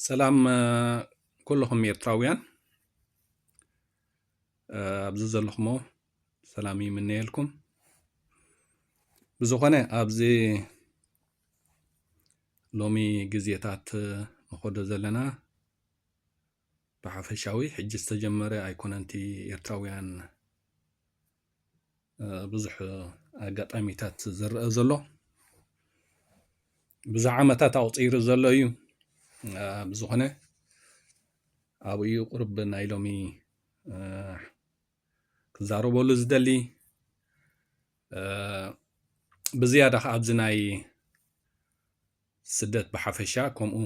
ሰላም ኩልኹም ኤርትራውያን ኣብዚ ዘለኹሞ ሰላም ይምነየልኩም ብዝኾነ ኣብዚ ሎሚ ግዜታት ንኸዶ ዘለና ብሓፈሻዊ ሕጂ ዝተጀመረ ኣይኮነንቲ ኤርትራውያን ብዙሕ ኣጋጣሚታት ዝረአ ዘሎ ብዙሕ ዓመታት ኣቑፂሩ ዘሎ እዩ ብዝኾነ ኣብኡ እዩ ቁርብ ናይ ሎሚ ክዛረበሉ ዝደሊ ብዝያዳ ከዓ ኣብዚ ናይ ስደት ብሓፈሻ ከምኡ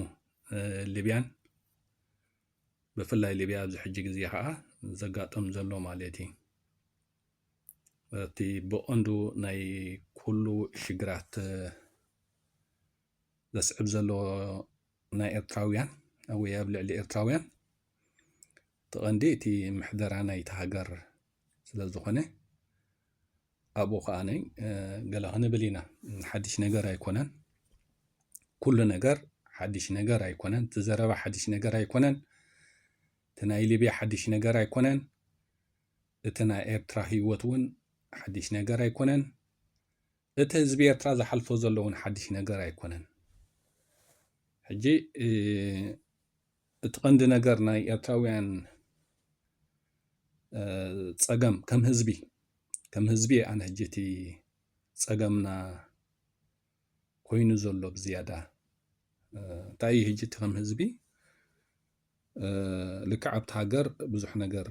ሊብያን ብፍላይ ሊብያ ኣብዚ ሕጂ ግዜ ከዓ ዘጋጥም ዘሎ ማለት እዩ እቲ ብቐንዱ ናይ ኩሉ ሽግራት ዘስዕብ ዘሎ ናይ ኤርትራውያን ወይ ኣብ ልዕሊ ኤርትራውያን እቲ ቐንዲ እቲ ምሕደራ ናይቲ ሃገር ስለ ዝኾነ ኣብኡ ከዓ ገለ ክንብል ኢና ሓድሽ ነገር ኣይኮነን ኩሉ ነገር ሓድሽ ነገር ኣይኮነን እቲ ዘረባ ሓድሽ ነገር ኣይኮነን እቲ ናይ ሊብያ ሓድሽ ነገር ኣይኮነን እቲ ናይ ኤርትራ ህይወት እውን ሓድሽ ነገር ኣይኮነን እቲ ህዝቢ ኤርትራ ዝሓልፎ ዘለውን ሓድሽ ነገር ኣይኮነን ሕጂ እቲ ቀንዲ ነገር ናይ ኤርትራውያን ጸገም ከም ህዝቢ ከም ህዝቢ ኣነ ሕጂ እቲ ጸገምና ኮይኑ ዘሎ ብዝያዳ እንታይ እዩ ሕጂ እቲ ከም ህዝቢ ልክዕ ኣብቲ ሃገር ብዙሕ ነገር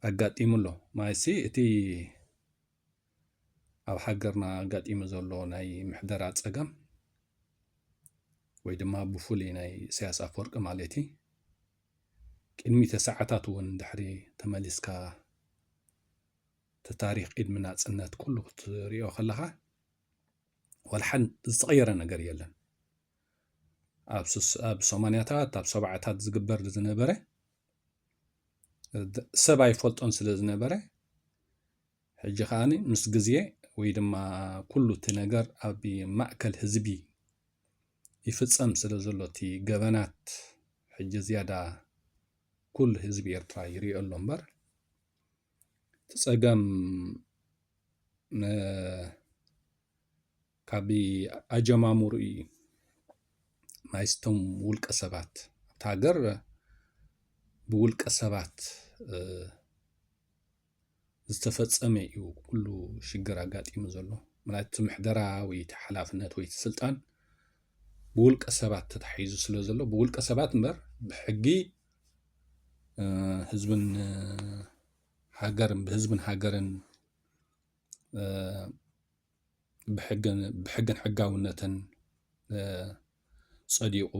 ኣጋጢሙ ኣሎ ማለትሲ እቲ ኣብ ሃገርና ኣጋጢሙ ዘሎ ናይ ምሕደራ ፀገም ወይ ድማ ብፍሉይ ናይ ኢሳያስ ኣፈወርቂ ማለት እዩ ቅድሚ ተሰዓታት እውን ድሕሪ ተመሊስካ እቲ ታሪክ ቅድሚ ናፅነት ኩሉ ክትሪኦ ከለካ ዋላ ሓን ዝተቐየረ ነገር የለን ኣብ ሰማንያታት ኣብ ሰብዓታት ዝግበር ዝነበረ ሰብ ኣይፈልጦን ስለ ዝነበረ ሕጂ ከኣኒ ምስ ግዜ ወይ ድማ ኩሉ እቲ ነገር ኣብ ማእከል ህዝቢ ይፍጸም ስለ ዘሎ እቲ ገበናት ሕጂ ዝያዳ ኩሉ ህዝቢ ኤርትራ ይሪኦ ኣሎ እምበር እቲ ጸገም ን ካብ ኣጀማምርኡ እዩ ናይስቶም ውልቀ ሰባት ኣብቲ ሃገር ብውልቀ ሰባት ዝተፈፀመ እዩ ኩሉ ሽግር ኣጋጢሙ ዘሎ ማለት እቲ ምሕደራ ወይ እቲ ሓላፍነት ወይ እቲ ስልጣን ብውልቀ ሰባት ተታሒዙ ስለ ዘሎ ብውልቀ ሰባት እምበር ብሕጊ ህዝብን ሃገርን ብህዝብን ሃገርን ብሕግን ሕጋውነትን ፀዲቑ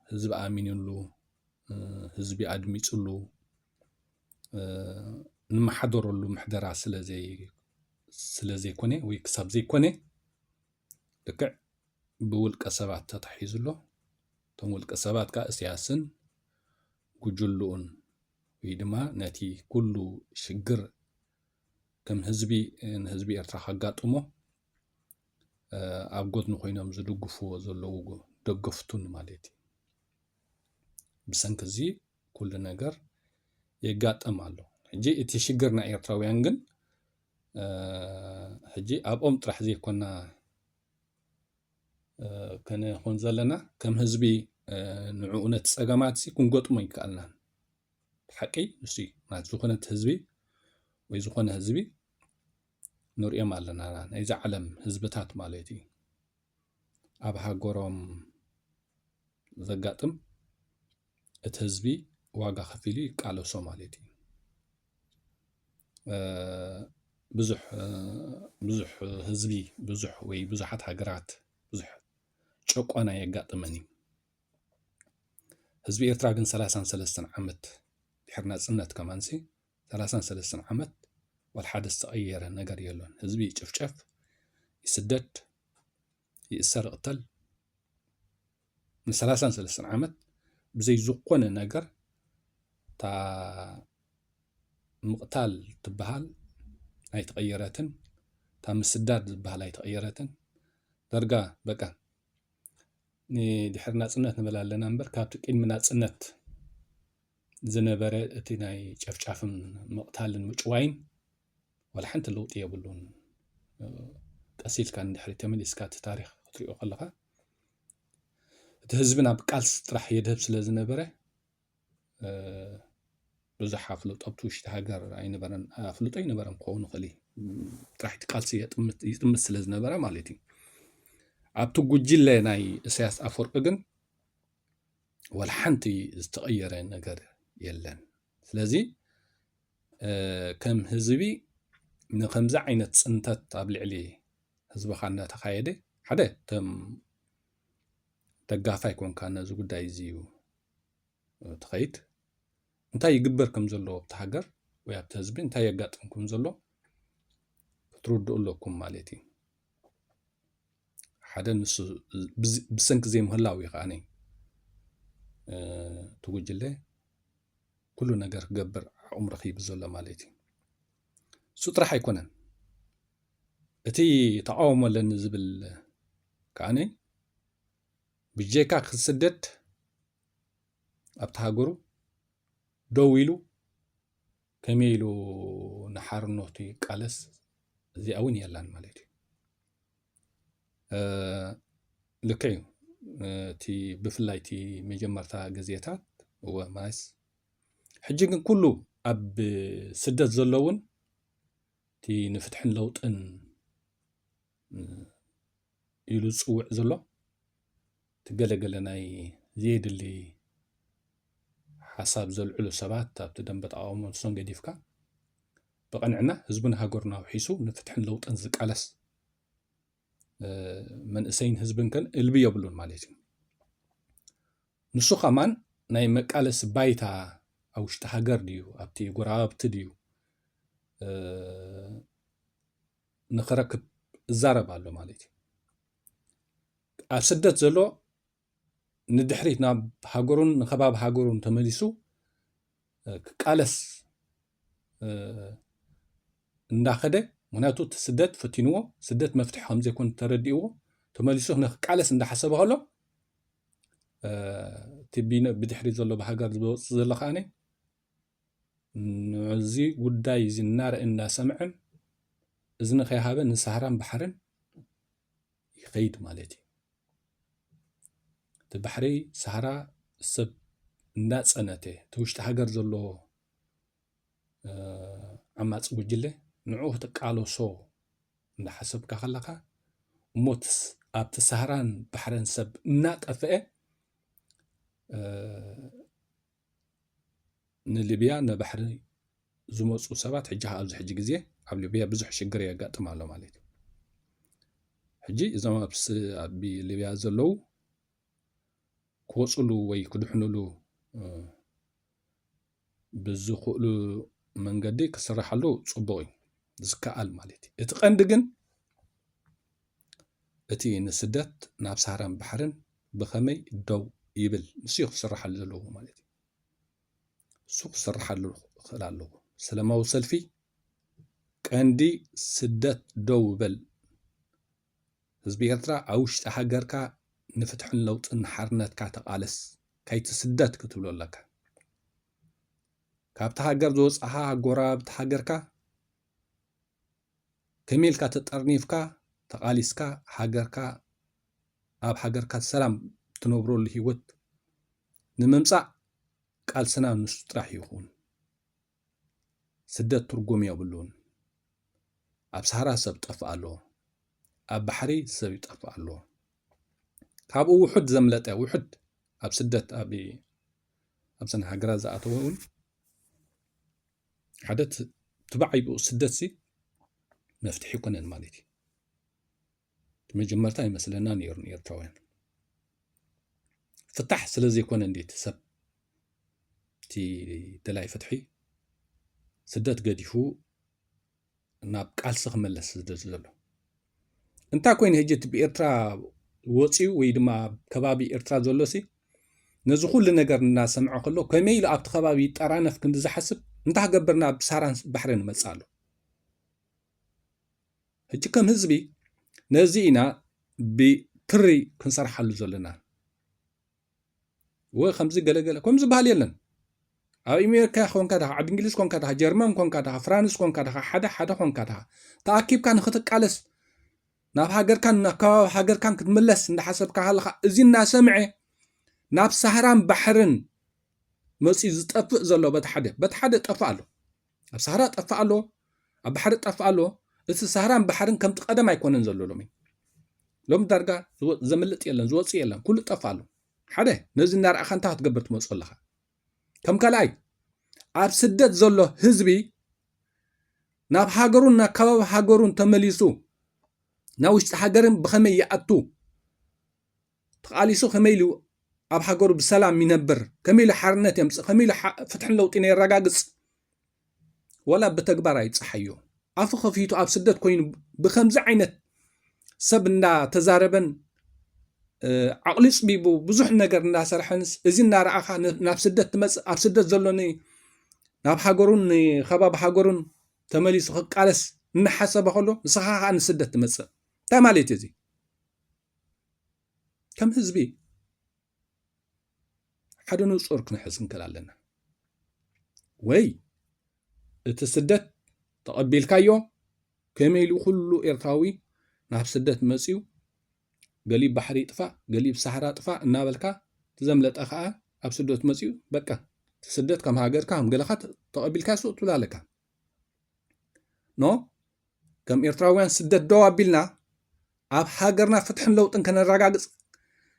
ህዝቢ ኣሚንሉ ህዝቢ ኣድሚፅሉ ንመሓደረሉ ምሕደራ ስለዘይኮነ ወይ ክሳብ ዘይኮነ ልክዕ ብውልቀ ሰባት ተታሒዙ ኣሎ እቶም ውልቀ ሰባት ከዓ እሰያስን ጉጅልኡን ወይ ድማ ነቲ ኩሉ ሽግር ከም ህዝቢ ንህዝቢ ኤርትራ ከጋጥሞ ኣብ ጎድኒ ኮይኖም ዝድግፍዎ ዘለዉ ደገፍቱን ማለት እዩ ብሰንኪ እዚ ኩሉ ነገር የጋጥም ኣሎ ሕጂ እቲ ሽግር ናይ ኤርትራውያን ግን ሕጂ ኣብኦም ጥራሕ ዘይኮና ከነኾን ዘለና ከም ህዝቢ ንዕኡ ነቲ ጸገማት ክንገጥሞ ይከኣልናን ብሓቂ ንሱ ማለት ዝኾነት ህዝቢ ወይ ዝኾነ ህዝቢ ንሪኦም ኣለና ናይዚ ዓለም ህዝብታት ማለት እዩ ኣብ ሃገሮም ዘጋጥም እቲ ህዝቢ ዋጋ ከፊሉ ይቃለሶ ማለት እዩ ብዙሕ ብዙሕ ህዝቢ ብዙሕ ወይ ብዙሓት ሃገራት ብዙሕ ጨቋና የጋጥመን እዩ ህዝቢ ኤርትራ ግን ሰላሳን ሰለስተን ዓመት ድሕሪ ናጽነት ከማንሲ ሰላሳን ሰለስተን ዓመት ዋላ ሓደ ዝተቐየረ ነገር የሎን። ህዝቢ ይጭፍጨፍ፣ ይስደድ፣ ይእሰር፣ ይቕተል ንሰላሳን ሰለስተን ዓመት ብዘይ ዝኾነ ነገር እታ ምቕታል ትበሃል ኣይተቐየረትን፣ እታ ምስዳድ ዝበሃል ኣይተቐየረትን። ደርጋ በቃ ንድሕሪ ናፅነት ንብል ኣለና እምበር ካብቲ ቅድሚ ናፅነት ዝነበረ እቲ ናይ ጨፍጫፍን ምቕታልን ምጭዋይን ዋላ ሓንቲ ለውጢ የብሉን። ቀስ ኢልካ ንድሕሪት ተመሊስካ እቲ ታሪኽ ክትሪኦ ከለኻ እቲ ህዝቢ ናብ ቃልሲ ጥራሕ የድህብ ስለ ዝነበረ ብዙሕ ኣፍልጦ ኣብቲ ውሽጢ ሃገር ኣይነበረን ኣፍልጦ ኣይነበረን ክኸውን ይኽእል እዩ ጥራሕቲ ቃልሲ ይጥምት ስለ ዝነበረ ማለት እዩ ኣብቲ ጉጅለ ናይ እሳያስ ኣፈወርቂ ግን ወላ ሓንቲ ዝተቐየረ ነገር የለን ስለዚ ከም ህዝቢ ንከምዚ ዓይነት ፅንተት ኣብ ልዕሊ ህዝብኻ እናተኻየደ ሓደ ከም ደጋፋይ ኮንካ ነዚ ጉዳይ እዚ እዩ ትኸይድ እንታይ ይግበር ከም ዘሎ ኣብቲ ሃገር ወይ ኣብቲ ህዝቢ እንታይ የጋጥም ከም ዘሎ ክትርድኡ ኣለኩም ማለት እዩ ሓደ ንሱ ብሰንኪ ዘይምህላው እዩ ከዓ እቲ ጉጅለ ኩሉ ነገር ክገብር ዓቕሙ ረኪቡ ዘሎ ማለት እዩ እሱ ጥራሕ ኣይኮነን እቲ ተቃውሞ ኣለኒ ዝብል ከዓኒ ብጀካ ክስደድ ኣብቲ ሃገሩ ደው ኢሉ ከመይ ኢሉ ንሓርነቱ ይቃለስ እዚኣ እውን የላን ማለት እዩ ልክዕ እዩ እቲ ብፍላይ እቲ መጀመርታ ግዜታት እወ ማይስ ሕጂ ግን ኩሉ ኣብ ስደት ዘለውን እቲ ንፍትሕን ለውጥን ኢሉ ዝፅውዕ ዘሎ እቲ ገለገለ ናይ ዘየድሊ ሓሳብ ዘልዕሉ ሰባት ኣብቲ ደንበ ተቃውሞ ንሶም ገዲፍካ ብቐንዕና ህዝብን ሃገሩን ኣውሒሱ ንፍትሕን ለውጥን ዝቃለስ መንእሰይን ህዝብን ከን እልቢ የብሉን ማለት እዩ ንሱ ከማን ናይ መቃለሲ ባይታ ኣብ ውሽጢ ሃገር ድዩ ኣብቲ ጎረባብቲ ድዩ ንክረክብ እዛረብ ኣሎ ማለት እዩ ኣብ ስደት ዘሎ ንድሕሪት ናብ ሃገሩን ንከባቢ ሃገሩን ተመሊሱ ክቃለስ እንዳኸደ ምክንያቱ እቲ ስደት ፈቲንዎ ስደት መፍትሒ ከምዘይኮን ተረዲእዎ ተመሊሱ ንክቃለስ እንዳሓሰበ ከሎ እቲ ብድሕሪ ዘሎ ብሃገር ዝወፅእ ዘሎ ከዓኒ ንዚ ጉዳይ እዚ እናረእን እናሰምዐን እዝኒ ከይሃበ ንሳህራን ባሕርን ይኸይድ ማለት እዩ እቲ ባሕሪ ሳህራ ሰብ እንዳፀነተ እቲ ውሽጢ ሃገር ዘሎ ዓማፂ ጉጅለ ንዑ ክትቃለሶ እንዳሓሰብካ ከለካ እሞ ኣብቲ ሳህራን ባሕረን ሰብ እናጠፍአ ንሊብያ ነባሕሪ ዝመፁ ሰባት ሕጂ ከዓ ኣብዚ ሕጂ ግዜ ኣብ ሊብያ ብዙሕ ሽግር የጋጥም ኣሎ ማለት እዩ ሕጂ እዞም ኣብ ሊብያ ዘለዉ ክወፅሉ ወይ ክድሕንሉ ብዝኽእሉ መንገዲ ክስራሓሉ ፅቡቅ እዩ ዝከኣል ማለት እዩ እቲ ቀንዲ ግን እቲ ንስደት ናብ ሳህራን ባሕርን ብኸመይ ደው ይብል ንሱ እዩ ክስራሓሉ ዘለዎ ማለት እዩ እሱ ክስራሓሉ ክኽእል ኣለዎ ሰላማዊ ሰልፊ ቀንዲ ስደት ደው በል ህዝቢ ኤርትራ ኣብ ውሽጢ ሃገርካ ንፍትሕን ለውጥን ሓርነትካ ተቓለስ ከይትስደት ክትብሎ ኣለካ ካብቲ ሃገር ዝወፅኻ ጎረባብቲ ሃገርካ ከመይ ኢልካ ተጠርኒፍካ ተቓሊስካ ሃገርካ ኣብ ሃገርካ ሰላም ትነብረሉ ሂወት ንምምጻእ ቃልስና ንሱ ጥራሕ ይኹን። ስደት ትርጉም የብሉን። ኣብ ሰሃራ ሰብ ጠፍእ ኣሎ። ኣብ ባሕሪ ሰብ ይጠፍእ ኣሎ። ካብኡ ውሑድ ዘምለጠ ውሑድ ኣብ ስደት ኣብ ኣብዘን ሃገራት ዝኣተወ እውን ሓደ ትባዕይ ብኡ ስደት ሲ መፍትሒ ይኮነን ማለት እዩ መጀመርታ ይመስለና ነይሩ ንኤርትራውያን ፍታሕ ስለ ዘይኮነ እንዴት ሰብ እቲ ደላይ ፍትሒ ስደት ገዲፉ ናብ ቃልሲ ክመለስ ዝደሊ ዘሎ እንታይ ኮይኑ ሕጂ እቲ ብኤርትራ ወፅዩ ወይ ድማ ከባቢ ኤርትራ ዘሎ ሲ ነዚ ኩሉ ነገር እናሰምዐ ከሎ ከመይ ኢሉ ኣብቲ ከባቢ ይጠራነፍ ክንዲ ዝሓስብ እንታይ ገበርና ኣብ ሳራን ባሕሪ ንመፅእ ኣሎ ሕጂ ከም ህዝቢ ነዚ ኢና ብትሪ ክንሰርሓሉ ዘለና ወይ ከምዚ ገለገለ ከም ዝበሃል የለን ኣብ ኣሜሪካ ኮንካ ድኻ ዓዲ እንግሊዝ ኮንካ ድኻ ጀርመን ኮንካ ድኻ ፍራንስ ኮንካ ድኻ ሓደ ሓደ ኮንካ ድኻ ተኣኪብካ ንክትቃለስ ናብ ሃገርካን ናብ ከባቢ ሃገርካን ክትምለስ እንዳሓሰብካ ሃለኻ እዚ እናሰምዐ ናብ ሳህራን ባሕርን መፅኡ ዝጠፍእ ዘሎ በቲ ሓደ በቲ ሓደ ጠፍእ ኣሎ ኣብ ሳህራ ጠፍእ ኣሎ ኣብ ባሕሪ ጠፍእ ኣሎ እቲ ሳህራን ባሕርን ከምቲ ቀደም ኣይኮነን ዘሎ ሎሚ ሎሚ ዳርጋ ዘምልጥ የለን ዝወፅእ የለን ኩሉ ጠፍ ኣሎ ሓደ ነዚ እናርኣኻ እንታይ ክትገብር ትመፁ ኣለኻ ከም ካልኣይ ኣብ ስደት ዘሎ ህዝቢ ናብ ሃገሩን ናብ ከባቢ ሃገሩን ተመሊሱ ናብ ውሽጢ ሃገርን ብኸመይ ይኣቱ ተቓሊሱ ከመይ ኢሉ ኣብ ሃገሩ ብሰላም ይነብር፣ ከመይ ኢሉ ሓርነት የምጽእ፣ ከመይ ኢሉ ፍትሕን ለውጢን የረጋግጽ ዋላ ብተግባር ኣይጸሓዮ ኣፉ ከፊቱ ኣብ ስደት ኮይኑ ብከምዚ ዓይነት ሰብ እንዳተዛረበን ዓቕሊ ጽቢቡ ብዙሕ ነገር እናሰርሐንስ እዚ እናረኣኻ ናብ ስደት ትመፅእ ኣብ ስደት ዘሎ ናብ ሃገሩን ከባቢ ሃገሩን ተመሊሱ ክቃለስ እናሓሰበ ከሎ ንስኻ ከዓ ንስደት ትመፅእ እንታይ ማለት እዩ እዚ ከም ህዝቢ ሓደ ንጹር ክንሕዝ ክንክእል ኣለና ወይ እቲ ስደት ተቐቢልካዮ ከመይ ኢሉ ኩሉ ኤርትራዊ ናብ ስደት መፅዩ ገሊብ ባሕሪ ጥፋእ ገሊብ ሳሕራ ጥፋእ እናበልካ ትዘምለጠ ከዓ ኣብ ስደት መፅዩ በቃ ስደት ከም ሃገርካ ከም ገለካ ተቐቢልካ ሱቅ ትብላ ኣለካ ኖ ከም ኤርትራውያን ስደት ደው ኣቢልና ኣብ ሃገርና ፍትሕን ለውጥን ከነረጋግጽ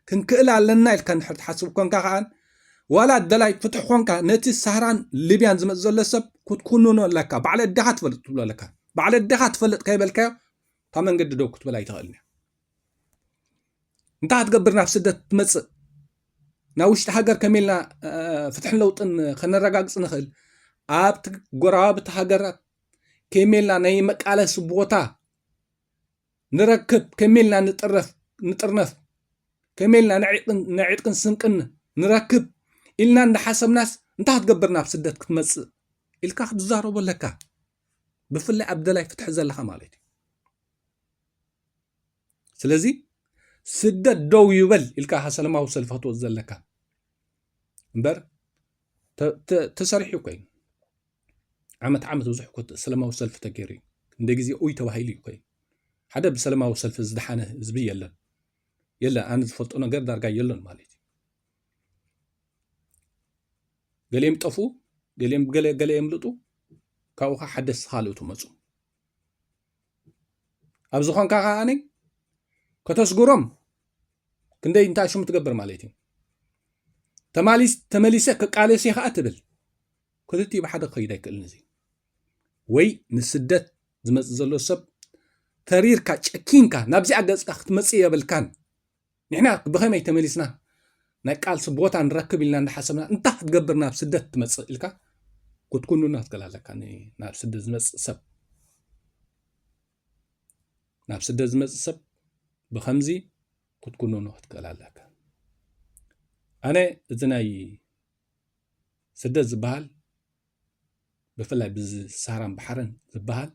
ክንክእል ኣለና ኢልካ እንድሕር ትሓስብ ኮንካ ከኣ ዋላ ደላይ ፍትሒ ኮንካ ነቲ ሳህራን ሊብያን ዝመጽ ዘሎ ሰብ ክትኩንኖ ኣለካ ባዕለ ኣዴኻ ትፈልጥ ትብሎ ኣለካ ባዕለ ኣዴኻ ትፈልጥ ከይበልካዮ ካብ መንገዲ ደው ክትበላ ኣይትኽእልን እያ እንታይ ክትገብር ናብ ስደት ትመጽእ ናብ ውሽጢ ሃገር ከመይ ኢልና ፍትሕን ለውጥን ከነረጋግጽ ንኽእል ኣብቲ ጎረባብቲ ሃገራት ከመልና ናይ መቃለሲ ቦታ ንረክብ ከመልና ንጥረፍ ንጥርነፍ ከመልና ነዕጥቅን ስንቅን ንረክብ ኢልና እንዳሓሰብናስ እንታይ ክትገብር ናብ ስደት ክትመፅእ ኢልካ ክትዛረቦ ኣለካ ብፍላይ ኣብ ደላይ ፍትሒ ዘለካ ማለት እዩ ስለዚ ስደት ደው ይበል ኢልካ ካ ሰለማዊ ሰልፊ ክትወፅ ዘለካ እምበር ተሰሪሑ ኮይኑ ዓመት ዓመት ብዙሕ እኮ ሰላማዊ ሰልፊ ተገይሩ እዩ እንደ ግዜ ኡይ ተባሂሉ እዩ ኮይኑ ሓደ ብሰላማዊ ሰልፊ ዝደሓነ ህዝቢ የለን የለ ኣነ ዝፈልጦ ነገር ዳርጋ የለን ማለት እዩ ገሊኦም ጠፉ ገሊኦም ገለ ገለ የምልጡ ካብኡ ከዓ ሓደስቲ ካልኦት መፁ ኣብ ዝኾንካ ከዓኒ ከተስጉሮም ክንደይ እንታይ ሽሙ ትገብር ማለት እዩ ተመሊሰ ክቃለስ እየ ከዓ ትብል ክልቲኡ ብሓደ ክኸይድ ኣይክእልን እዚ ወይ ንስደት ዝመፅእ ዘሎ ሰብ ተሪርካ ጨኪንካ ናብዚኣ ገፅካ ክትመፅእ የብልካን ንሕና ብኸመይ ተመሊስና ናይ ቃልሲ ቦታ ንረክብ ኢልና እንዳሓሰብና እንታይ ክትገብር ናብ ስደት ትመፅእ ኢልካ ክትኩንና ትክእል ኣለካ ናብ ስደት ዝመፅእ ሰብ ናብ ስደት ዝመፅእ ሰብ ብከምዚ ክትኩንኖ ክትክእል ኣለካ ኣነ እዚ ናይ ስደት ዝበሃል ብፍላይ ብዚ ሳራን ባሕርን ዝበሃል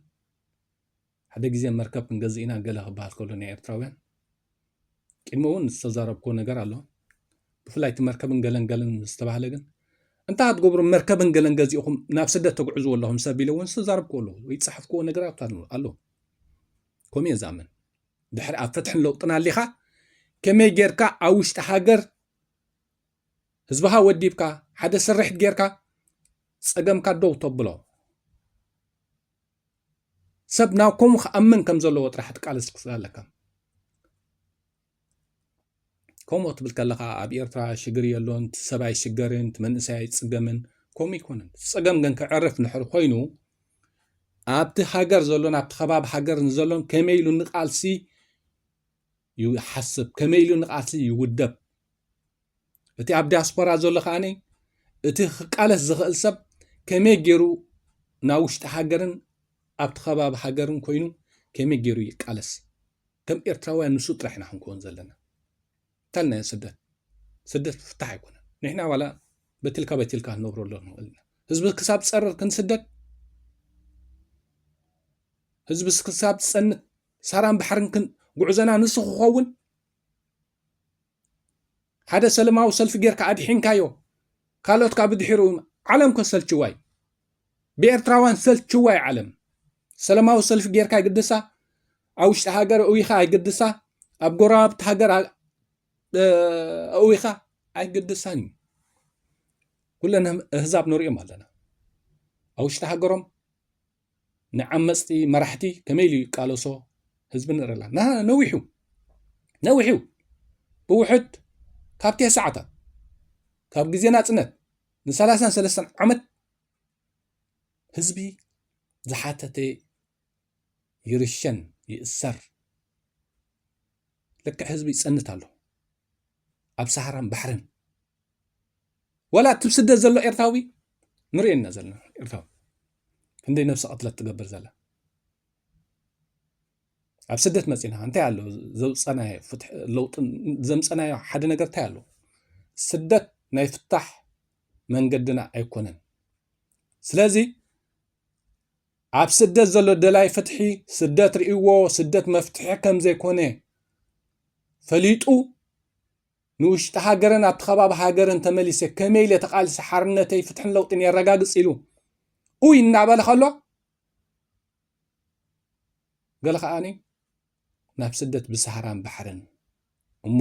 ሓደ ግዜ መርከብ ክንገዝእ ኢና ገለ ክበሃል ከሎ ናይ ኤርትራውያን ቅድሚ እውን ዝተዛረብክዎ ነገር ኣሎ ብፍላይ እቲ መርከብን ገለን ገለን ዝተባህለ ግን እንታይ ክትገብሩ መርከብን ገለን ገዚእኹም ናብ ስደት ተግዕዝዎ ኣለኹም ሰብ ኢለ እውን ዝተዛረብክዎ ኣለዎ ወይ ዝፀሓፍክዎ ነገራት ኣሎ ከምኡ እየ ዝኣምን ድሕሪ ኣብ ፍትሕን ለውጥን ኣሊኻ ከመይ ጌርካ ኣብ ውሽጢ ሃገር ህዝብኻ ወዲብካ ሓደ ስርሒት ጌርካ ጸገምካ ደው ተብሎ ሰብ ናብ ከምኡ ክኣምን ከም ዘለዎ ጥራሕ ትቃለስ ክፍል ኣለካ ከምኡ ትብል ከለኻ ኣብ ኤርትራ ሽግር የሎን ሰብ ኣይሽገርን መንእሰይ ኣይፅገምን ከምኡ ይኮነን ፀገም ግን ክዕርፍ ንሕር ኮይኑ ኣብቲ ሃገር ዘሎን ኣብቲ ከባቢ ሃገር ዘሎን ከመይ ኢሉ ንቃልሲ ይሓስብ ከመይ ኢሉ ንቓልሲ ይውደብ እቲ ኣብ ዲያስፖራ ዘሎ ከዓኒ እቲ ክቃለስ ዝኽእል ሰብ ከመይ ገይሩ ናብ ውሽጢ ሃገርን ኣብቲ ከባቢ ሃገርን ኮይኑ ከመይ ገይሩ ይቃለስ ከም ኤርትራውያን ንሱ ጥራሕ ኢና ክንከውን ዘለና እንታልናዮ ስደት ስደት ፍታሕ ኣይኮነን ንሕና ዋላ በትልካ በትልካ ክንነብሮ ኣሎ ንኽእል ኢና ህዝቢ ክሳብ ፀርር ክንስደድ ህዝቢ ክሳብ ዝፀንት ሳራን ባሕርን ክን ጉዕዘና ንሱ ክኸውን ሓደ ሰለማዊ ሰልፊ ጌርካ ኣድሒንካዮ ካልኦት ካብ ድሒሩ ዓለም ከሰልችዋይ ብኤርትራውያን ሰልችዋይ ዓለም ሰለማዊ ሰልፊ ጌርካ ይግድሳ ኣብ ውሽጢ ሃገር እዊኻ ኣይግድሳ ኣብ ጎረባብቲ ሃገር እዊኻ ኣይግድሳን እዩ ኩለን ህዛብ ንሪኦም ኣለና ኣብ ውሽጢ ሃገሮም ንዓመጽቲ መራሕቲ ከመይ ኢሉ ይቃለሶ ህዝቢ ንርኢ ኣላ ና ነዊሑ ነዊሑ ብውሕድ ካብ ቴስ ሰዓታት ካብ ግዜ ናጽነት ንሰላሳን ሰለስተን ዓመት ህዝቢ ዝሓተተ ይርሸን ይእሰር ልክዕ ህዝቢ ይጸንት ኣሎ ኣብ ሰሃራን ባሕርን ወላ እቲ ስደት ዘሎ ኤርትራዊ ንሪኦ ኢና ዘለና ኤርትራዊ ክንደይ ነብሲ ቅትለት ትገብር ዘላ ኣብ ስደት መፂና እንታይ ኣሎ ዘውፀናዮ ፍትሒ ለውጢ ዘምፀናዮ ሓደ ነገር እንታይ ኣሎ ስደት ናይ ፍታሕ መንገድና ኣይኮነን ስለዚ ኣብ ስደት ዘሎ ደላይ ፍትሒ ስደት ርእዎ ስደት መፍትሒ ከም ዘይኮነ ፈሊጡ ንውሽጢ ሃገርን ናብቲ ከባቢ ሃገርን ተመሊሰ ከመይ ኢለ ተቓሊሰ ሓርነተይ፣ ፍትሕን ለውጢን የረጋግጽ ኢሉ ኡይ እናበለ ከሎ ገለ ከኣኒ ናብ ስደት ብሳህራን ባሕርን እሞ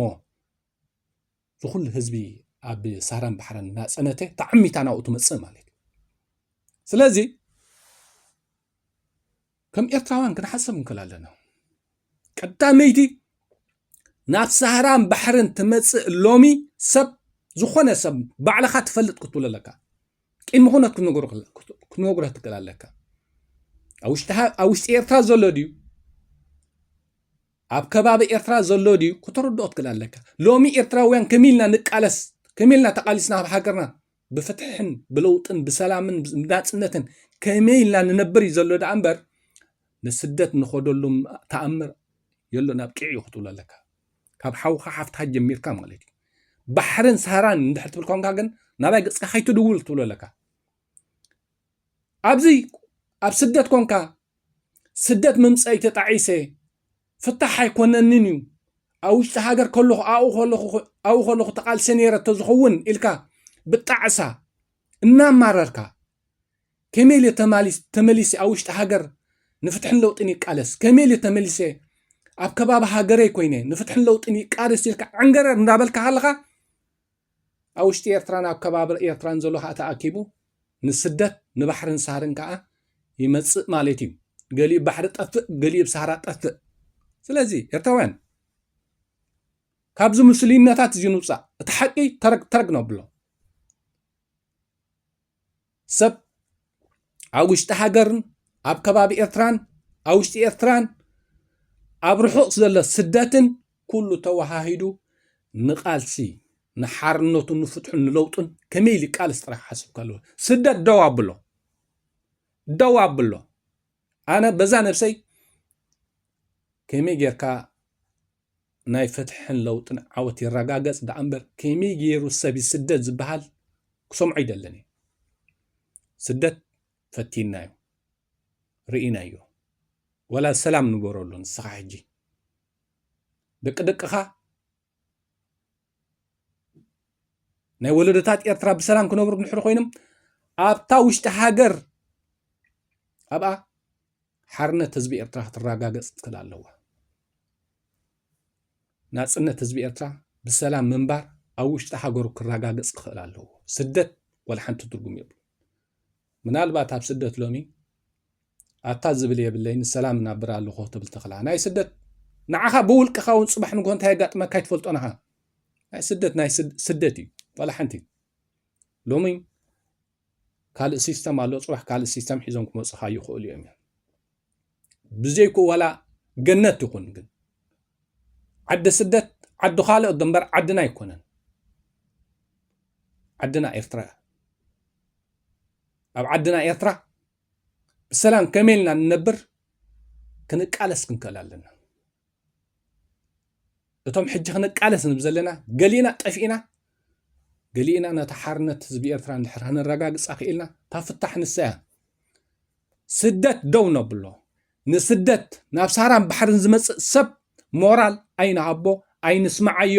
ዝኹሉ ህዝቢ ኣብ ሳህራን ባሕርን እናጸነተ ተዓሚታ ናብኡ ትመጽእ ማለት እዩ ስለዚ ከም ኤርትራውያን ክንሓሰብ ንክእል ኣለና ቀዳመይቲ ናብ ሳህራን ባሕርን ትመጽእ ሎሚ ሰብ ዝኾነ ሰብ ባዕልኻ ትፈልጥ ክትብሎ ኣለካ ቅድሚ ኩነት ክንወግሮ ትክእል ኣለካ ኣብ ውሽጢ ኤርትራ ዘሎ ድዩ ኣብ ከባቢ ኤርትራ ዘሎ ድዩ ክትርድኦ ትክእል ኣለካ ሎሚ ኤርትራውያን ከመ ኢልና ንቃለስ ከመ ኢልና ተቃሊስና ኣብ ሃገርና ብፍትሕን ብለውጥን ብሰላምን ብናጽነትን ከመይ ኢልና ንነብር እዩ ዘሎ ደኣ እምበር ንስደት ንኸደሉ ተኣምር የሎ ናብ ቂዕ እዩ ክትብሎ ኣለካ ካብ ሓውካ ሓፍትካ ጀሚርካ ማለት እዩ ባሕርን ሳህራን እንድሕር ትብል ኮንካ ግን ናባይ ገጽካ ከይትድውል ክትብሎ ኣለካ ኣብዚ ኣብ ስደት ኮንካ ስደት ምምጸእይ ተጣዒሰ ፍታሕ ኣይኮነንን እዩ ኣብ ውሽጢ ሃገር ከለኹ ኣብኡ ከለኹ ኣብኡ ከለኹ ተቓልሰ ነይረ ተዝኸውን ኢልካ ብጣዕሳ እናማረርካ ከመይ ኢለ ተመሊሰ ኣብ ውሽጢ ሃገር ንፍትሕን ለውጥን ይቃለስ ከመይ ኢለ ተመሊሰ ኣብ ከባቢ ሃገረይ ኮይነ ንፍትሕን ለውጥን ይቃለስ ኢልካ ዕንገረር እንዳበልካ ሃለኻ ኣብ ውሽጢ ኤርትራን ኣብ ከባቢ ኤርትራን ዘሎ ከኣ ተኣኪቡ ንስደት ንባሕርን ሳህርን ከኣ ይመጽእ ማለት እዩ ገሊኡ ባሕሪ ጠፍእ ገሊኡ ብ ሳህራ ጠፍእ ስለዚ ኤርትራውያን ካብዚ ምስልዩነታት እዚ ንውፃእ እቲ ሓቂ ተረግ ተረግ ነብሎ ሰብ ኣብ ውሽጢ ሃገርን ኣብ ከባቢ ኤርትራን ኣብ ውሽጢ ኤርትራን ኣብ ርሑቕ ዘሎ ስደትን ኩሉ ተወሃሂዱ ንቓልሲ ንሓርነቱን ንፍትሑን ንለውጡን ከመይ ኢሉ ቃልስ ጥራሕ ሓስብካ ኣለዎ ስደት ደው ኣብሎ ደው ኣብሎ ኣነ በዛ ነብሰይ ከመይ ጌርካ ናይ ፍትሕን ለውጥን ዓወት ይረጋገጽ ደኣ እምበር ከመይ ገይሩ ሰብ ይስደድ ዝበሃል ክሰምዖ ይደልን እዩ ስደት ፈቲናዮ ርኢናዮ ወላ ሰላም ንበረሉ ንስኻ ሕጂ ደቂ ደቅኻ ናይ ወለዶታት ኤርትራ ብሰላም ክነብሩ ድሕሪ ኮይኖም ኣብታ ውሽጢ ሃገር ኣብኣ ሓርነት ህዝቢ ኤርትራ ክትረጋገፅ ትክእል ኣለዋ ናፅነት ህዝቢ ኤርትራ ብሰላም ምንባር ኣብ ውሽጢ ሃገሩ ክረጋገፅ ክኽእል ኣለዎ ስደት ወላ ሓንቲ ትርጉም የብሉ ምናልባት ኣብ ስደት ሎሚ ኣታ ዝብል የብለይን ሰላም እናብር ኣለኹ ትብል ተኽላ ናይ ስደት ንዓኻ ብውልቅኻ እውን ፅባሕ ንግሆ እንታይ የጋጥመካ ኣይትፈልጦን ኢኻ ናይ ስደት ናይ ስደት እዩ ዋላ ሓንቲ ሎሚ ካልእ ሲስተም ኣሎ ፅባሕ ካልእ ሲስተም ሒዞም ክመፁኻ ይኽእሉ እዮም ብዘይኩ ዋላ ገነት ይኹን ግን ዓዲ ስደት ዓዲ ካልኦት ደንበር ዓድና ኣይኮነን ዓድና ኤርትራ ኣብ ዓድና ኤርትራ ብሰላም ከመይ ኢልና ንነብር ክንቃለስ ክንክእል ኣለና እቶም ሕጂ ክንቃለስ ንብ ዘለና ገሊእና ጠፊእና ገሊእና ነቲ ሓርነት ህዝቢ ኤርትራ ንድሕር ክንረጋግጻ ክኢልና እታ ፍታሕ ንሰያ ስደት ደው ነብሎ ንስደት ናብ ሳራን ባሕርን ዝመጽእ ሰብ ሞራል ኣይንሃቦ ኣይንስማዓዮ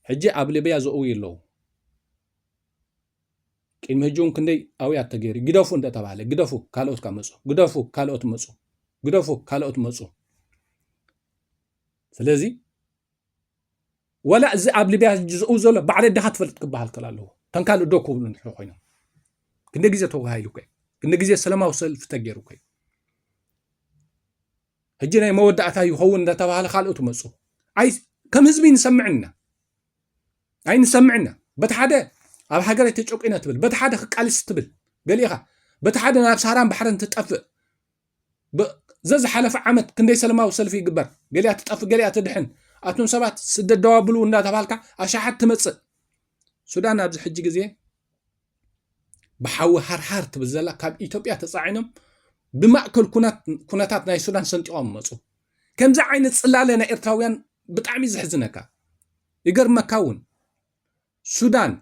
ሕጂ ኣብ ሊብያ ዘእውዩ ኣለዉ ቅድሚ ሕጂ እውን ክንደይ ኣውያት ተገይሩ ግደፉ እንደተባሃለ ግደፉ ካልኦት ካብ መፁ ግደፉ ካልኦት መፁ ግደፉ ካልኦት መፁ ስለዚ ወላ እዚ ኣብ ሊብያ ዝኡ ዘሎ ባዕለ ድኻ ትፈልጥ ክበሃል ከል ኣለዎ ከም ካልእ ዶ ክብሉ ንድሕሪ ኮይኖም ክንደ ግዜ ተዋሂሉ ኮ ክንደ ግዜ ሰለማዊ ሰልፊ ተገይሩ ኮ ሕጂ ናይ መወዳእታ ይኸውን እንዳተባሃለ ካልኦት መፁ ኣይ ከም ህዝቢ ንሰምዕ ኢና ኣይ ንሰምዕ ኢና በቲ ሓደ ኣብ ሃገረይ ተጨቂነ ትብል በቲ ሓደ ክቃልስ ትብል ገሊእኻ በቲ ሓደ ናብ ሳራን ባሕርን ትጠፍእ ዘዝሓለፈ ዓመት ክንደይ ሰለማዊ ሰልፊ ይግበር ገሊኣ ትጠፍእ ገሊኣ ትድሕን ኣቱም ሰባት ስደት ደዋብሉ እንዳተባሃልካ ኣሻሓት ትመፅእ ሱዳን ኣብዚ ሕጂ ግዜ ብሓዊ ሃርሃር ትብል ዘላ ካብ ኢትዮጵያ ተፃዒኖም ብማእከል ኩነታት ናይ ሱዳን ሰንጢቖም መፁ ከምዚ ዓይነት ፅላለ ናይ ኤርትራውያን ብጣዕሚ ዘሕዝነካ ይገርመካ እውን ሱዳን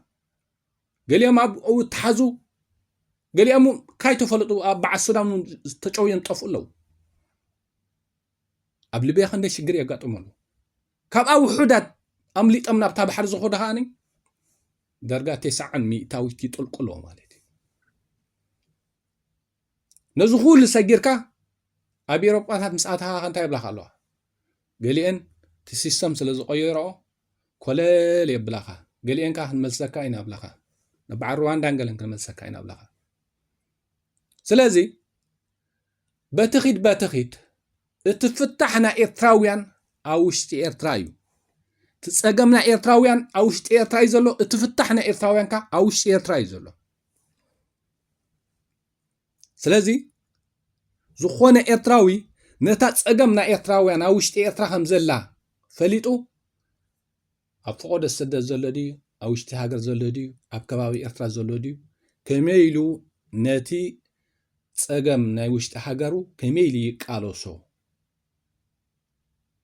ገሊኦም ኣብኡ ተሓዙ ገሊኦም ካይተፈለጡ ኣብ በዓል ሱዳን ተጨውዮም ጠፍኡ ኣለዉ ኣብ ልብያ ክንደይ ሽግር የጋጥሙ ኣለዉ ካብኣ ውሑዳት ኣምሊጦም ናብታ ባሕሪ ዝኸዱ ከኣ ዳርጋ ቴስዓን ሚእታዊት ይጥልቁሎ ማለት እዩ ነዚ ኩሉ ሰጊርካ ኣብ ኤሮጳታት ምስ ኣተኻ እንታይ ይብላካ ኣለዋ ገሊአን እቲ ሲስተም ስለ ዝቐየረኦ ኮለል የብላኻ ገሊአን ከዓ ክንመልሰካ ኢና ብላኻ ንበዓል ሩዋንዳን ገለን ክንመልሰካ ኢና ብላኻ ስለዚ በቲ ኺድ በቲ ኺድ እቲ ፍታሕ ናይ ኤርትራውያን ኣብ ውሽጢ ኤርትራ እዩ እቲ ፀገም ናይ ኤርትራውያን ኣብ ውሽጢ ኤርትራ እዩ ዘሎ እቲ ፍታሕ ናይ ኤርትራውያን ከ ኣብ ውሽጢ ኤርትራ እዩ ዘሎ ስለዚ ዝኾነ ኤርትራዊ ነታ ፀገም ናይ ኤርትራውያን ኣብ ውሽጢ ኤርትራ ከም ዘላ ፈሊጡ ኣብ ፈቆዶ ሰደት ዘሎ ድዩ ኣብ ውሽጢ ሃገር ዘሎ ድዩ ኣብ ከባቢ ኤርትራ ዘሎ ድዩ ከመይ ኢሉ ነቲ ጸገም ናይ ውሽጢ ሃገሩ ከመይ ኢሉ ይቃለሶ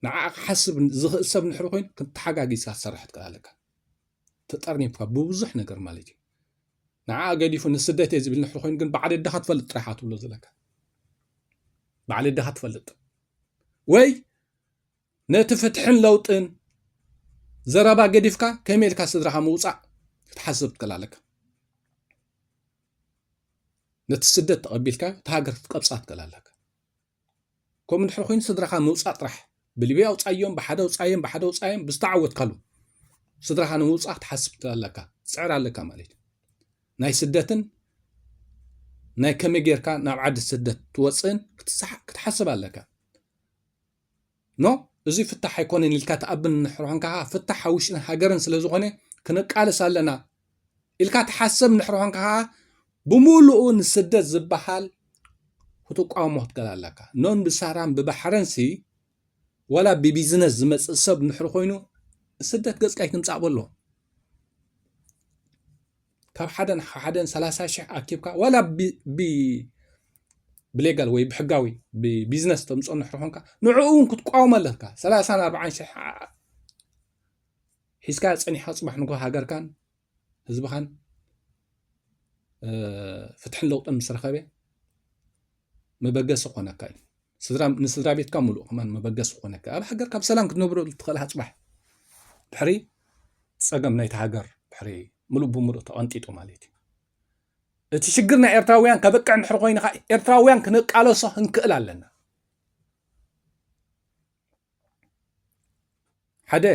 ንዓኣ ክሓስብ ዝኽእል ሰብ ንሕሪ ኮይኑ ተሓጋጊዝካ ክትሰርሕ ትክእል ኣለካ ተጠርኒፍካ ብብዙሕ ነገር ማለት እዩ ንዓኣ ገዲፉ ንስደት እየ ዝብል ንሕሪ ኮይኑ ግን ባዕሊ ድኻ ትፈልጥ ጥራሓ ትብሎ ዘለካ ባዕሊ ድኻ ትፈልጥ ወይ ነቲ ፍትሕን ለውጥን ዘረባ ገዲፍካ ከመይ ኢልካ ስድራኻ ምውፃእ ክትሓስብ ትክእል ኣለካ ነቲ ስደት ተቐቢልካ እቲ ሃገር ክትቀብፃ ትክእል ኣለካ ከምኡ እንድሕር ኮይኑ ስድራኻ ምውፃእ ጥራሕ ብሊብያ ውፃዮም ብሓደ ውፃዮም ብሓደ ውፃዮም ብዝተዓወትካሉ ስድራኻ ንምውፃእ ክትሓስብ ትክእል ኣለካ ፅዕር ኣለካ ማለት እዩ ናይ ስደትን ናይ ከመይ ጌርካ ናብ ዓዲ ስደት ትወፅእን ክትሓስብ ኣለካ ኖ እዙይ ፍታሕ ኣይኮነን ኢልካ ትኣምን እንድሕር ኾንካ ከዓ ፍታሕ ኣብ ውሽጥን ሃገርን ስለ ዝኾነ ክንቃለስ ኣለና ኢልካ ትሓሰብ እንድሕር ኾንካ ከዓ ብምሉኡ ንስደት ዝበሃል ክትቋሞ ክትገል ኣለካ ኖን ብሳራን ብባሕረንሲ ዋላ ብቢዝነስ ዝመፅእ ሰብ እንድሕር ኮይኑ ስደት ገፅካ ይትምፃእ በሎ ካብ ሓደን ካብ ሓደን ሰላሳ ሽሕ ኣኪብካ ዋላ ብሌጋል ወይ ብሕጋዊ ብቢዝነስ ተምፅኦ እንድሕር ኮንካ ንዕኡ እውን ክትቋወሞ ኣለካ ሰላሳን ኣርባዓን ሽሕ ሒዝካ ፀኒሕካ ፅባሕ ንጎ ሃገርካን ህዝብኻን ፍትሕን ለውጥን ምስ ረኸበ መበገሲ ክኾነካ እዩ ንስድራ ቤትካ ምሉእ ከማን መበገሲ ክኾነካ ኣብ ሃገርካ ብሰላም ክትነብረ ትኽእል ሃፅባሕ ድሕሪ ፀገም ናይቲ ሃገር ድሕሪ ምሉእ ብምሉእ ተቐንጢጡ ማለት እዩ እቲ ሽግር ናይ ኤርትራውያን ከበቅዕ ንድሕሪ ኮይኑ ከዓ ኤርትራውያን ክንቃለሶ ክንክእል ኣለና ሓደ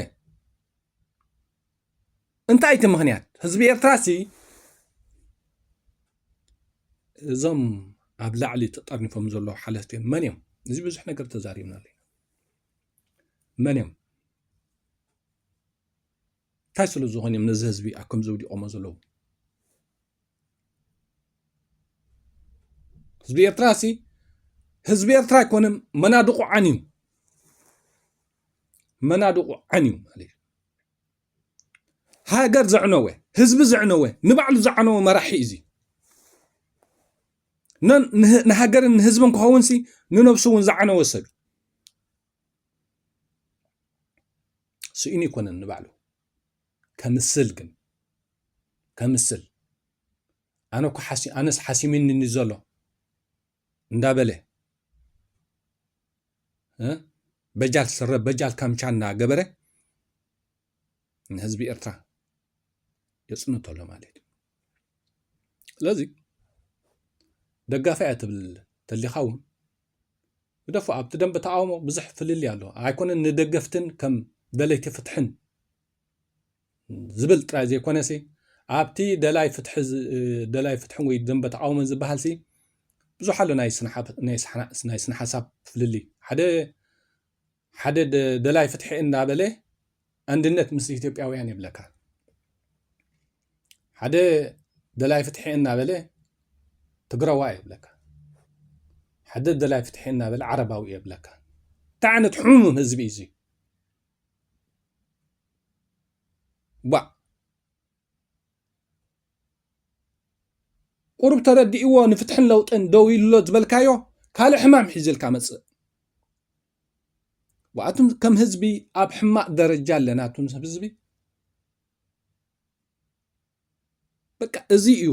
እንታይ እቲ ምክንያት ህዝቢ ኤርትራ ሲ እዞም ኣብ ላዕሊ ተጠርኒፎም ዘለዉ ሓለፍቲ መን እዮም እዚ ብዙሕ ነገር ተዛሪብና ኣለና መን እዮም እንታይ ስለ ዝኾኑ እዮም ነዚ ህዝቢ ኣብ ከምዚ ውዲቖሞ ዘለዉ ህዝቢ ኤርትራ ሲ ህዝቢ ኤርትራ ኣይኮነን መናድቑ ዓንዩ መናድቑ ዓንዩ ማለት እዩ ሃገር ዘዕነወ ህዝቢ ዘዕነወ ንባዕሉ ዝዓነወ መራሒ እዩ እዚ ንሃገርን ንህዝብን ክኸውን ሲ ንነብሱ እውን ዝዓነወ ሰብ እዩ ስኢኑ ይኮነን ንባዕሉ ከምስል ግን ከምስል ኣነ እኮ ኣነስ ሓሲሚኒ ዘሎ እንዳበለ በጃል ስረ በጃል ካምቻ እናገበረ ንህዝቢ ኤርትራ የፅንቶ ኣሎ ማለት እዩ ስለዚ ደጋፊ እያ ትብል ተሊኻ እውን ግደፉ ኣብቲ ደንበ ተቃውሞ ብዙሕ ፍልልይ ኣሎ ኣይኮነን ንደገፍትን ከም ደለይቲ ፍትሕን ዝብል ጥራይ ዘይኮነሲ ኣብቲ ደላይ ፍትሒ ደላይ ፍትሕን ወይ ደንበ ተቃውሞን ዝበሃልሲ ብዙሕ ኣሎ ናይ ስነ ሓሳብ ፍልልይ ሓደ ሓደ ደላይ ፍትሒ እንዳበለ ኣንድነት ምስ ኢትዮጵያውያን የብለካ ሓደ ደላይ ፍትሒ እናበለ ትግራዋ የብለካ ሓደ ደላይ ፍትሒ እናበለ ዓረባዊ የብለካ እንታይ ዓይነት ሕሙም ህዝቢ እዩ ቧእ! ቁሩብ ተረዲእዎ ንፍትሕን ለውጥን ደው ኢሉ ኣሎ ዝበልካዮ ካልእ ሕማም ሒዙልካ መጽእ። ኣቱም ከም ህዝቢ ኣብ ሕማቕ ደረጃ ኣለና ኣቱም ህዝቢ። በቃ እዚ እዩ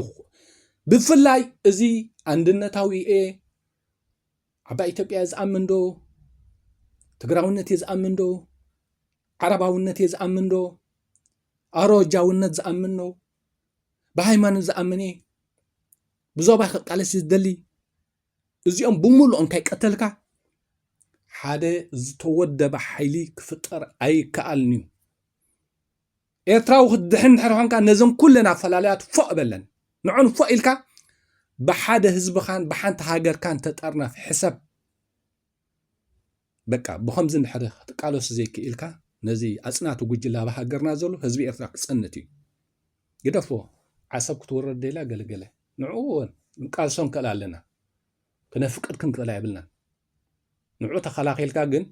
ብፍላይ እዚ ኣንድነታዊ እየ ዓባይ ኢትዮጵያ ዝኣምን ዶ ትግራውነት እየ ዝኣምን ዶ ዓረባውነት እየ ዝኣምን ዶ ኣሮጃውነት ዝኣምን ዶ ብሃይማኖት ዝኣምን እየ ብዞባ ክቃለስ ዝደሊ እዚኦም ብምሉእ እንተይቀተልካ ሓደ ዝተወደበ ሓይሊ ክፍጠር ኣይከኣልን እዩ ኤርትራዊ ክትድሕን እንድሕር ኾንካ ነዘን ኩለን ኣፈላላያት ፎእ በለን ንዕን ፎእ ኢልካ ብሓደ ህዝብኻን ብሓንቲ ሃገርካን ተጠርነፍ ሕሰብ በቃ ብኸምዚ እንድሕር ክትቃለሱ ዘይክኢልካ ነዚ ኣጽናቲ ጉጅለ ኣብ ሃገርና ዘሎ ህዝቢ ኤርትራ ክጸንት እዩ ግደፎ ዓሰብ ክትወረድ ደላ ገለገለ ንዕኡ እውን ንቃልሶ ንክእል ኣለና ክነፍቅድ ክንክእላ የብልናን ንዑ ተኸላኺልካ ግን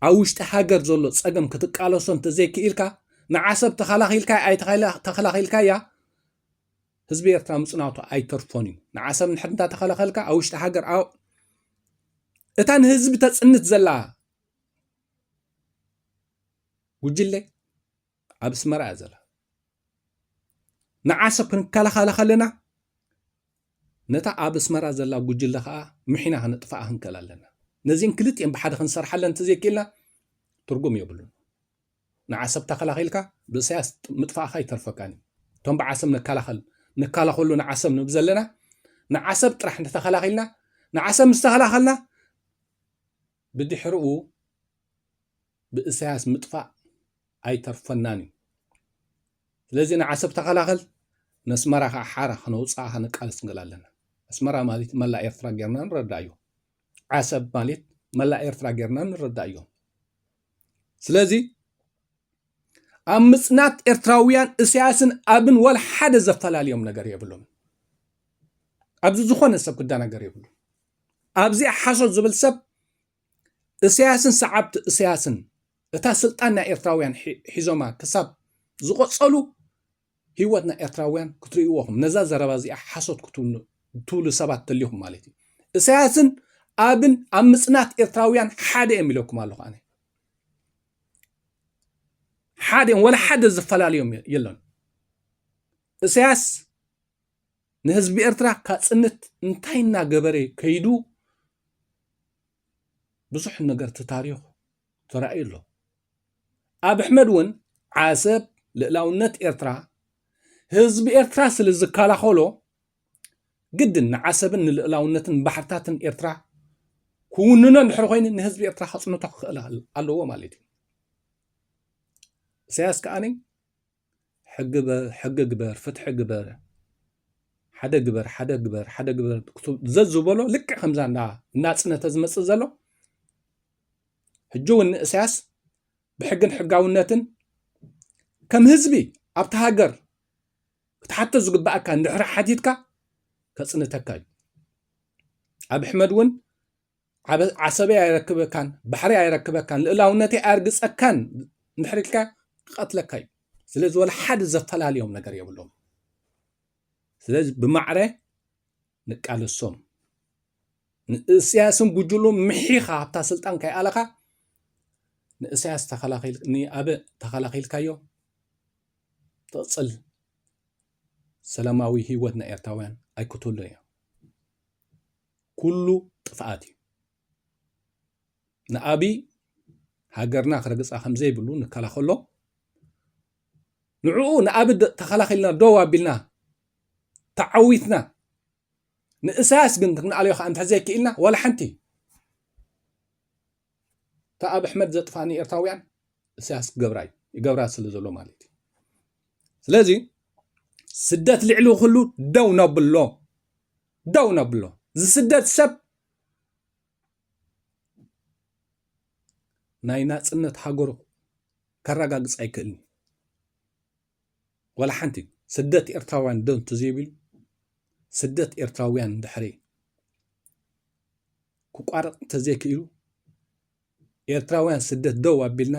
ኣብ ውሽጢ ሃገር ዘሎ ፀገም ክትቃለሶ እንተዘይክኢልካ ንዓሰብ ተኸላኺልካ ኣይተኸላኺልካያ ህዝቢ ኤርትራ ምፅናቱ ኣይተርፎን እዩ ንዓሰብ ንሕር እንተተኸላኸልካ ኣብ ውሽጢ ሃገር እታ ንህዝቢ ተፅንት ዘላ ጉጅለ ኣብ ኣስመራ እያ ዘላ ንዓሰብ ክንከላኸላ ከለና ነታ ኣብ ኣስመራ ዘላ ጉጅለ ከዓ ምሒና ከነጥፍኣ ክንከል ኣለና ነዚን ክልቲኤን ብሓደ ክንሰርሓለን እንተዘይክኢልና ትርጉም የብሉን ንዓሰብ ተኸላኺልካ ብእሳያስ ምጥፋእካ ይተርፈካን እዩ እቶም ብዓሰብ ንከላኸል ንከላኸሉ ንዓሰብ ንብ ዘለና ንዓሰብ ጥራሕ እንተተኸላኺልና ንዓሰብ ምስ ተኸላኸልና ብድሕርኡ ብእሰያስ ምጥፋእ ኣይተርፈናን እዩ ስለዚ ንዓሰብ ተኸላኸል ነስመራ ከኣ ሓራ ከነውጽኣኻ ንቃለስ ንገል ኣለና ኣስመራ ማለት መላእ ኤርትራ ጌርና ንረዳእዮ ዓሰብ ማለት መላእ ኤርትራ ጌርና ንረዳእዮ ስለዚ ኣብ ምጽናት ኤርትራውያን እሰያስን ኣብን ወላ ሓደ ዘፈላልዮም ነገር የብሎም ኣብዚ ዝኾነ ሰብ ክደናገር የብሉ ኣብዚኣ ሓሶት ዝብል ሰብ እሰያስን ሰዓብቲ እሰያስን እታ ስልጣን ናይ ኤርትራውያን ሒዞማ ክሳብ ዝቆጸሉ ህይወት ናይ ኤርትራውያን ክትርእይዎኹም ነዛ ዘረባ እዚኣ ሓሶት ክትብሉ ሰባት ተሊኹም ማለት እዩ እሰያስን ኣብን ኣብ ምጽናት ኤርትራውያን ሓደ እዮም ኢለኩም ኣለኹ ኣነ ሓደ እዮም ወላ ሓደ ዝፈላለዮም የለን እሰያስ ንህዝቢ ኤርትራ ካጽንት እንታይ እና ገበረ ከይዱ ብዙሕ ነገር ተታሪኹ ተራእዩ ኣሎ። ኣብ ኣሕመድ እውን ዓሰብ ልእላውነት ኤርትራ ህዝቢ ኤርትራ ስለ ዝከላኸሎ ግድን ንዓሰብን ንልእላውነትን ባሕርታትን ኤርትራ ክውንኖ እንድሕር ኮይኑ ንህዝቢ ኤርትራ ከፅንቶ ክኽእል ኣለዎ ማለት እዩ ኢሳያስ ከዓኒ ሕጊ በል ሕጊ ግበር ፍትሒ ግበር ሓደ ግበር ሓደ ግበር ሓደ ግበር ዘዝበሎ ልክዕ ከምዛ እንዳ እናፅነተ ዝመፅእ ዘሎ ሕጂ እውን ንእስያስ ብሕግን ሕጋውነትን ከም ህዝቢ ኣብቲ ሃገር ክትሓቶ ዝግባኣካ እንድሕሪ ሓቲትካ ከፅንተካ እዩ ኣብ ኣሕመድ እውን ዓሰበይ ኣይረክበካን ባሕሪ ኣይረክበካን ልእላውነተይ ኣርግፀካን እንድሕር ኢልካ ክቐትለካ እዩ ስለዚ ወላ ሓደ ዘፈላልዮም ነገር የብሎም ስለዚ ብማዕረ ንቃለሶም ንእስያስን ጉጅሉ ምሒኻ ኣብታ ስልጣን ከይኣለኻ ንእስያስ ንኣበ ተኸላኺልካዮ ትቕፅል ሰላማዊ ህይወት ናይ ኤርትራውያን ኣይክትህሉ እዮም ኩሉ ጥፍኣት እዩ። ንኣብይ ሃገርና ክረግፃ ከምዘይብሉ ንከላኸሎ ንዕኡ ንኣብ ተኸላኺልና ደው ኣቢልና ተዓዊትና ንእሳያስ ግን ክንኣልዮ ከዓ እንተ ዘይክኢልና ዋላ ሓንቲ እታ ኣብ ኣሕመድ ዘጥፋ ንኤርትራውያን እሳያስ ክገብራ እዩ ይገብራ ስለ ዘሎ ማለት እዩ ስለዚ ስደት ልዕሊ ኩሉ ደው ነብሎ ደው ነብሎ ዝስደድ ሰብ ናይ ናፅነት ሃገሩ ከረጋግፅ ኣይክእልን እዩ ወላ ሓንቲ ስደት ኤርትራውያን ዶ እንተዘይብሉ ስደት ኤርትራውያን እንድሕሪ ክቋረፅ እንተዘይክኢሉ ኤርትራውያን ስደት ደው ኣቢልና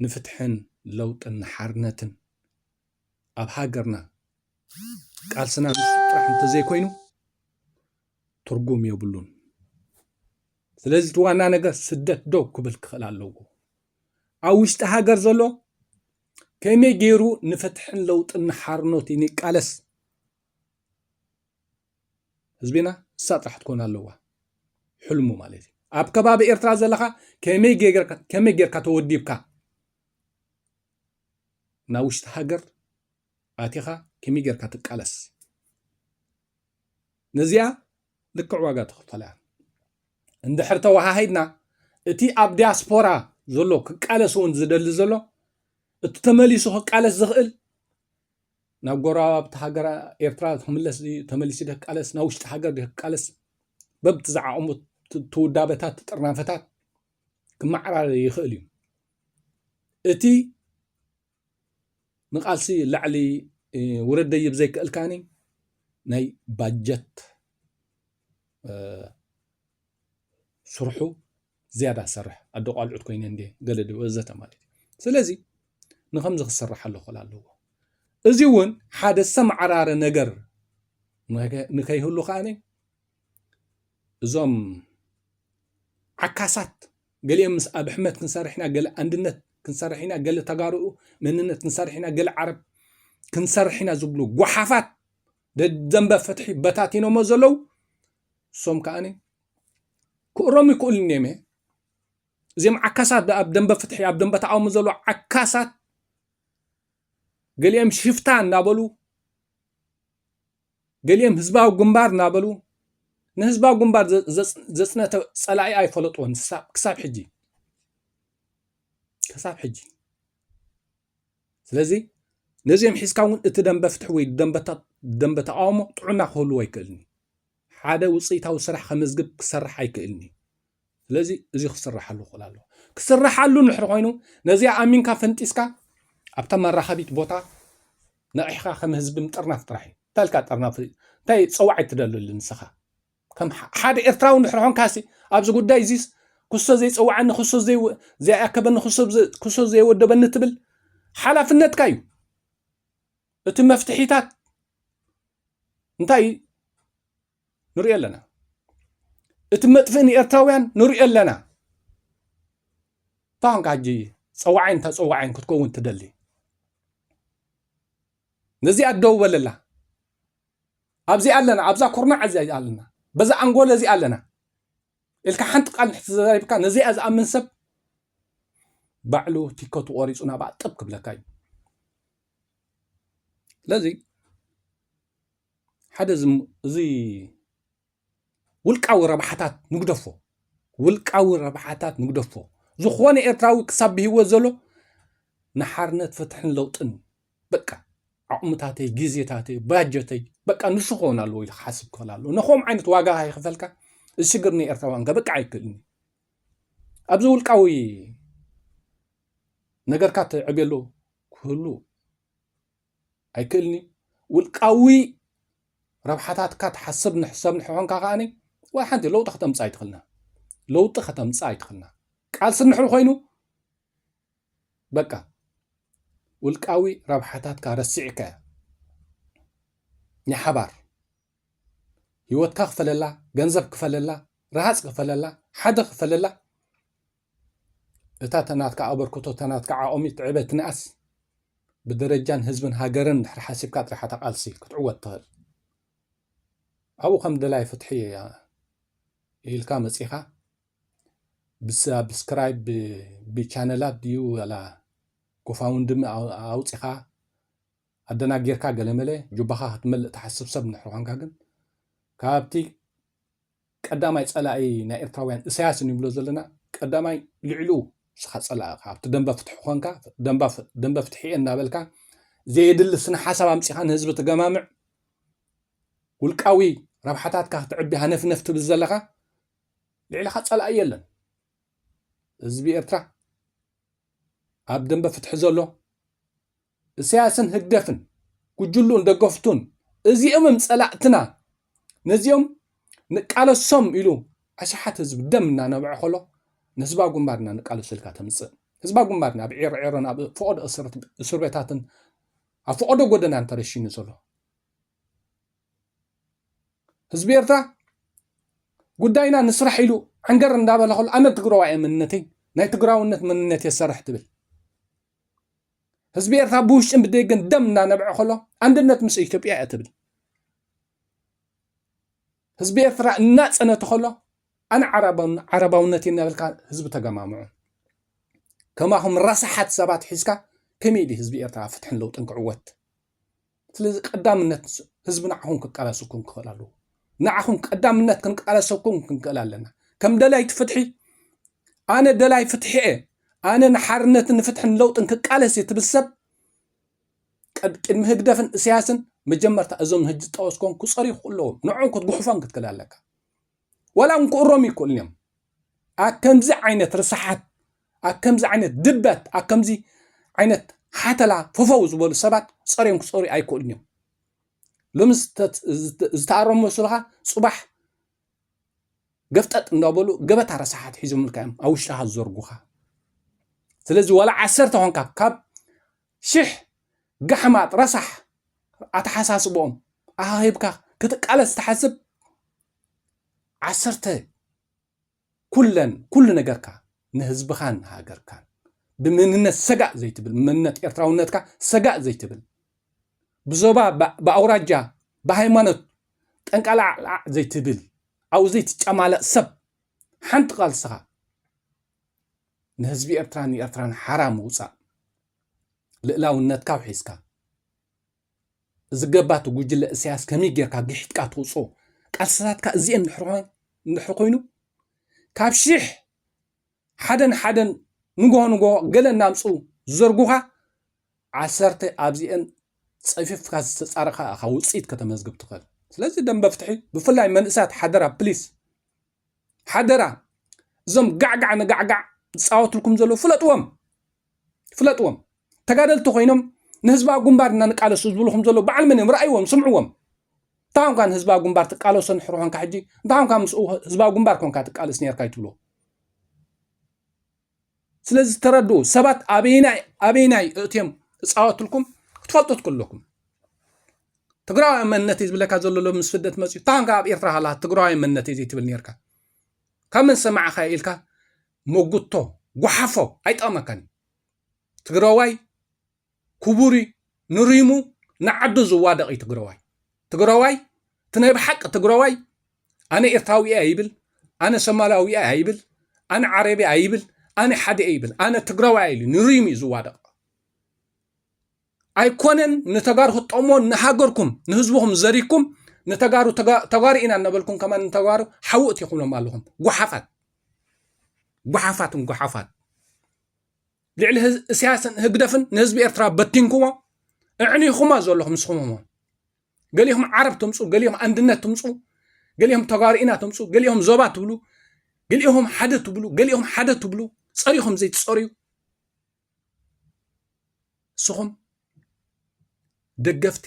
ንፍትሕን ለውጥን ንሓርነትን ኣብ ሃገርና ቃልስና ንሱ ጥራሕ እንተዘይኮይኑ ትርጉም የብሉን ስለዚ እቲ ዋና ነገር ስደት ደው ክብል ክኽእል ኣለዎ ኣብ ውሽጢ ሃገር ዘሎ ከመይ ገይሩ ንፍትሕን ለውጥን ንሓርኖት ይንቃለስ ህዝቢና ንሳ ጥራሕ ትኮን ኣለዋ ሕልሙ ማለት እዩ ኣብ ከባቢ ኤርትራ ዘለካ ከመይ ጌርካ ተወዲብካ ናብ ውሽጢ ሃገር ኣቲኻ ከመይ ጌርካ ትቃለስ ነዚኣ ልክዕ ዋጋ ተኽፈላ እያ እንድሕር ተወሃሂድና እቲ ኣብ ዲያስፖራ ዘሎ ክቃለስ እውን ዝደሊ ዘሎ እቲ ተመሊሱ ክቃለስ ዝኽእል ናብ ጎረባብቲ ሃገር ኤርትራ ክምለስ ድዩ ተመሊሱ ደ ክቃለስ ናብ ውሽጢ ሃገር ደ ክቃለስ በብቲ ዝዓቕሙ ትውዳበታት ትጥርናፈታት ክመዓራረ ይኽእል እዩ እቲ ንቃልሲ ላዕሊ ውረድ ደይብ ዘይክእልካኒ ናይ ባጀት ስርሑ ዝያዳ ሰርሕ ኣደ ቋልዑት ኮይነ እንዲ ገለ ወዘተ ማለት እዩ ስለዚ ንከምዚ ክስራሕ ኣለኮል ኣለዎ እዚ እውን ሓደ ሰምዓራረ ነገር ንከይህሉ ከዓኒ እዞም ዓካሳት ገሊኦም ምስ ኣብሕመድ ክንሰርሕ ኢና ገለ ኣንድነት ክንሰርሕ ኢና ገለ ተጋርኡ መንነት ክንሰርሕ ኢና ገለ ዓረብ ክንሰርሕ ኢና ዝብሉ ጓሓፋት ደደንበ ፍትሒ በታቲኖሞ ዘለው እሶም ከዓኒ ክእሮም ይክእሉ እዮም እየ እዚኦም ዓካሳት ኣብ ደንበ ፍትሒ ኣብ ደንበ ተቃውሞ ዘሎ ዓካሳት ገሊኦም ሽፍታ እናበሉ ገሊኦም ህዝባዊ ግንባር እናበሉ ንህዝባዊ ግንባር ዘፅነተ ፀላኢ ኣይፈለጥዎን ክሳብ ሕጂ ክሳብ ሕጂ ስለዚ ነዚኦም ሒዝካ እውን እቲ ደንበ ፍትሒ ወይ ደንበ ተቃውሞ ጥዑና ክህልዎ ኣይክእልን ሓደ ውፅኢታዊ ስራሕ ከመዝግብ ክሰርሕ ኣይክእልን እዩ ስለዚ እዚ ክስራሓሉ ክኽእል ኣለዎ ክስራሓሉ ንድሕር ኮይኑ ነዚኣ ኣሚንካ ፈንጢስካ ኣብታ መራኸቢት ቦታ ነቒሕካ ከም ህዝቢ ምጥርናፍ ጥራሕ እዩ እንታይ ኢልካ ጠርናፍ እንታይ ፀዋዕ ትደልሉ ንስኻ ከም ሓደ ኤርትራዊ ንድሕር ኮንካሲ ኣብዚ ጉዳይ እዚስ ክሶ ዘይፀዋዓኒ ክሶ ዘይኣከበኒ ክሶ ዘይወደበኒ ትብል ሓላፍነትካ እዩ እቲ መፍትሒታት እንታይ ንሪኦ ኣለና እቲ መጥፍእ ንኤርትራውያን ንሪኦ ኣለና እንታይ ኮንካ ሕጂ ፀዋዓይን ተፀዋዓይን ክትከውን ትደሊ ነዚኣ ደው በለላ ኣብዚኣ ኣለና ኣብዛ ኩርናዕ እዚ ኣለና በዛ ኣንጎለ እዚ ኣለና ኢልካ ሓንቲ ቃል ንሕቲ ዘዛሪብካ ነዚኣ ዝኣምን ሰብ ባዕሉ ቲከቱ ቆሪፁ ናብኣ ጥብ ክብለካ እዩ ስለዚ ሓደ እዚ ውልቃዊ ረብሓታት ንግደፎ ውልቃዊ ረብሓታት ንግደፎ ዝኾነ ኤርትራዊ ክሳብ ብሂወት ዘሎ ንሓርነት ፍትሕን ለውጥን በቃ ዓቕምታተይ ግዜታተይ ባጀተይ በቃ ንሱ ክኸውን ኣለዎ ኢሉ ክሓስብ ክኽእል ኣለዎ ንከም ዓይነት ዋጋ ከይክፈልካ እዚ ሽግር ንኤርትራውያን ከበቅዕ ኣይክእልን እዩ ኣብዚ ውልቃዊ ነገርካ ትዕብየሉ ክህሉ ኣይክእልን እዩ ውልቃዊ ረብሓታትካ ትሓስብ ንሕሰብ ንሕኾንካ ከዓኒ ዋላ ሓንቲ ለውጢ ከተምፅእ ኣይትኽልና ለውጢ ከተምፅእ ኣይትኽልና ቃልሲ እንድሕር ኮይኑ በቃ ውልቃዊ ረብሓታትካ ረሲዕካ እያ ናይ ሓባር ህይወትካ ክፈለላ ገንዘብ ክፈለላ ረሃፅ ክፈለላ ሓደ ክፈለላ እታ ተናትካ ኣበርክቶ ተናትካ ዓኦሚት ትዕበትንኣስ ብደረጃን ህዝብን ሃገርን ድሕሪ ሓሲብካ ጥራሕ ኣታ ቃልሲ ክትዕወት ትኽእል ኣብኡ ከም ደላይ ፍትሒ ኢልካ መጺኻ ብሳብስክራይብ ብቻነላት ድዩ ወላ ጎፋውንድሚ ኣውፂኻ ኣደናጊርካ ገለመለ ጁባኻ ክትመልእ ትሓስብ ሰብ ንድሕሪ ኳንካ ግን ካብቲ ቀዳማይ ጸላኢ ናይ ኤርትራውያን እሳያስ እንብሎ ዘለና ቀዳማይ ልዕሉ ንስኻ ጸላኢ እኻ ኣብቲ ደንበ ፍትሒ ኮንካ ደንበ ፍትሒ እየ እናበልካ ዘየድሊ ስነ ሓሳብ ኣምጺኻ ንህዝቢ ትገማምዕ ውልቃዊ ረብሓታትካ ክትዕቢ ሃነፍነፍ ትብል ዘለኻ ልዕልኻ ጸላኢ የለን ህዝቢ ኤርትራ ኣብ ደንበ ፍትሒ ዘሎ እሰያስን ህግደፍን ጉጅሉኡን ደገፍቱን እዚኦም እዮም ጸላእትና ነዚኦም ንቃለሶም ኢሉ ኣሽሓት ህዝቢ ደም እናነብዐ ከሎ ንህዝባዊ ግንባር ኢና ንቃለሶ ኢልካ ተምጽእ ህዝባዊ ግንባር ኢና ኣብ ዒርዒሮን ኣብ ፈቐዶ እስር ቤታትን ኣብ ፈቐዶ ጎደናን ተረሺኑ ዘሎ ህዝቢ ኤርትራ ጉዳይና ንስራሕ ኢሉ ዕንገር እንዳበለ ከሎ ኣነ ትግራዋይ እየ መንነተይ ናይ ትግራውነት መንነት እየ ዝሰርሕ ትብል ህዝቢ ኤርትራ ብውሽጥን ብደገን ደም እናነብዐ ከሎ ኣንድነት ምስ ኢትዮጵያ እያ ትብል ህዝቢ ኤርትራ እናፀነቱ ከሎ ኣነ ዓረባውነት እናበልካ ህዝቢ ተገማምዑ ከማኹም ረሳሓት ሰባት ሒዝካ ከመይ ድዩ ህዝቢ ኤርትራ ፍትሕን ለውጥን ክዕወት ስለዚ ቀዳምነት ህዝቢ ንዓኹም ክቃለሰኩም ክኽእል ኣለዎ። ንዓኹም ቀዳምነት ክንቃለሰኩም ክንክእል ኣለና። ከም ደላይቲ ፍትሒ ኣነ ደላይ ፍትሒ እየ፣ ኣነ ንሓርነትን ንፍትሕን ለውጥን ክቃለስ እየ ትብል ሰብ ቅድሚ ህግደፍን እስያስን መጀመርታ እዞም ህጂ ዝጠወስኮም ክፀርዩ ኣለዎም ንዕኦም ክትጉሕፎም ክትክእል ኣለካ ዋላ እውን ክእረሙ ይክእሉን እዮም። ኣብ ከምዚ ዓይነት ርስሓት፣ ኣብ ከምዚ ዓይነት ድበት፣ ኣብ ከምዚ ዓይነት ሓተላ ፈፈው ዝበሉ ሰባት ጸርዮም ክጸርዩ ኣይክእሉን እዮም። ሎሚ ዝተኣረሙ መስሉኻ ጽባሕ ገፍጠጥ እንዳበሉ ገበታ ረሳሓት ሒዞምልካ እዮም ኣብ ውሽጥኻ ዝዘርጉኻ። ስለዚ ዋላ ዓሰርተ ኮንካ ካብ ሽሕ ጋሕማጥ ረሳሕ ኣተሓሳስበኦም ኣኻኺብካ ክትቃለስ ትሓስብ ዓሰርተ ኩለን ኩሉ ነገርካ ንህዝብኻን ንሃገርካን ብመንነት ሰጋእ ዘይትብል ብመንነት ኤርትራውነትካ ሰጋእ ዘይትብል ብዞባ ብኣውራጃ ብሃይማኖት ጠንቃላዕላዕ ዘይትብል ኣብኡ ዘይትጨማለቕ ሰብ ሓንቲ ቃልስኻ ንህዝቢ ኤርትራን ንኤርትራን ሓራ ምውፃእ ልእላውነትካ ውሒዝካ ዝገባ እቲ ጉጅለ እሰያስ ከመይ ጌርካ ግሒጥካ ትውጽኦ ቃልስታትካ እዚኤን ድሕሪ ኮይኑ ካብ ሽሕ ሓደን ሓደን ንግሆ ንግሆ ገለ እናምጽኡ ዝዘርጉኻ ዓሰርተ ኣብዚኤን ጸፊፍካ ዝተጻረኻ ኢኻ ውጽኢት ከተመዝግብ ትኽእል ስለዚ ደንበ ፍትሒ ብፍላይ መንእሰያት ሓደራ ፕሊስ ሓደራ እዞም ጋዕጋዕ ንጋዕጋዕ ዝፃወትልኩም ዘለዉ ፍለጥዎም ፍለጥዎም ተጋደልቲ ኮይኖም ንህዝባዊ ግንባር እና ንቃለሱ ዝብሉ ከም ዘለዉ በዓል መን እዮም ረኣይዎም ስምዕዎም እንታይ ኮንካ ንህዝባዊ ግንባር ትቃለሶ ንሕሪ ኮንካ ሕጂ እንታይ ኮንካ ምስ ህዝባዊ ግንባር ኮንካ ትቃለስ ነርካ ይትብሎ ስለዚ ተረድኡ ሰባት ኣበይናይ ኣበይናይ እእትዮም እፃወትልኩም ክትፈልጡ ትክለኩም ትግራዊ መንነት እዩ ዝብለካ ዘሎ ሎ ምስ ስደት መፅኡ እንታይ ኮንካ ኣብ ኤርትራ ሃላ ትግራዊ መንነት እዩ ዘይትብል ነርካ ካብ መን ሰማዕኻ ኢልካ መጉቶ ጉሓፎ ኣይጠቅመካን እዩ ትግረዋይ ኩቡር እዩ ንሪሙ ንዓዱ ዝዋደቅ እዩ ትግረዋይ ትግረዋይ እቲ ናይ ብሓቂ ትግረዋይ ኣነ ኤርትራዊ እየ ኣይብል ኣነ ሰማላዊ እየ ኣይብል ኣነ ዓረብ እየ ኣይብል ኣነ ሓደ እየ ይብል ኣነ ትግረዋይ ኢሉ ንሪሙ እዩ ዝዋደቅ ኣይኮነን ንተጋሩ ክትጠቕምዎ ንሃገርኩም ንህዝብኹም ዘሪኩም ንተጋሩ ተጋሩ ኢና እናበልኩም ከማን ንተጋሩ ሓዊ እትይኹምሎም ኣለኹም ጓሓፋት ጓሓፋትን ጓሓፋት ልዕሊ እስያስን ህግደፍን ንህዝቢ ኤርትራ በቲንኩሞ እዕኒኹማ ዘለኹም ንስኹምሞ ገሊኹም ዓረብ ትምፁ ገሊኹም ኣንድነት ትምፁ ገሊኹም ተጋሩ ኢና ትምፁ ገሊኹም ዞባ ትብሉ ገሊኹም ሓደ ትብሉ ገሊኹም ሓደ ትብሉ ፀሪኹም ዘይትፀርዩ ንስኹም ደገፍቲ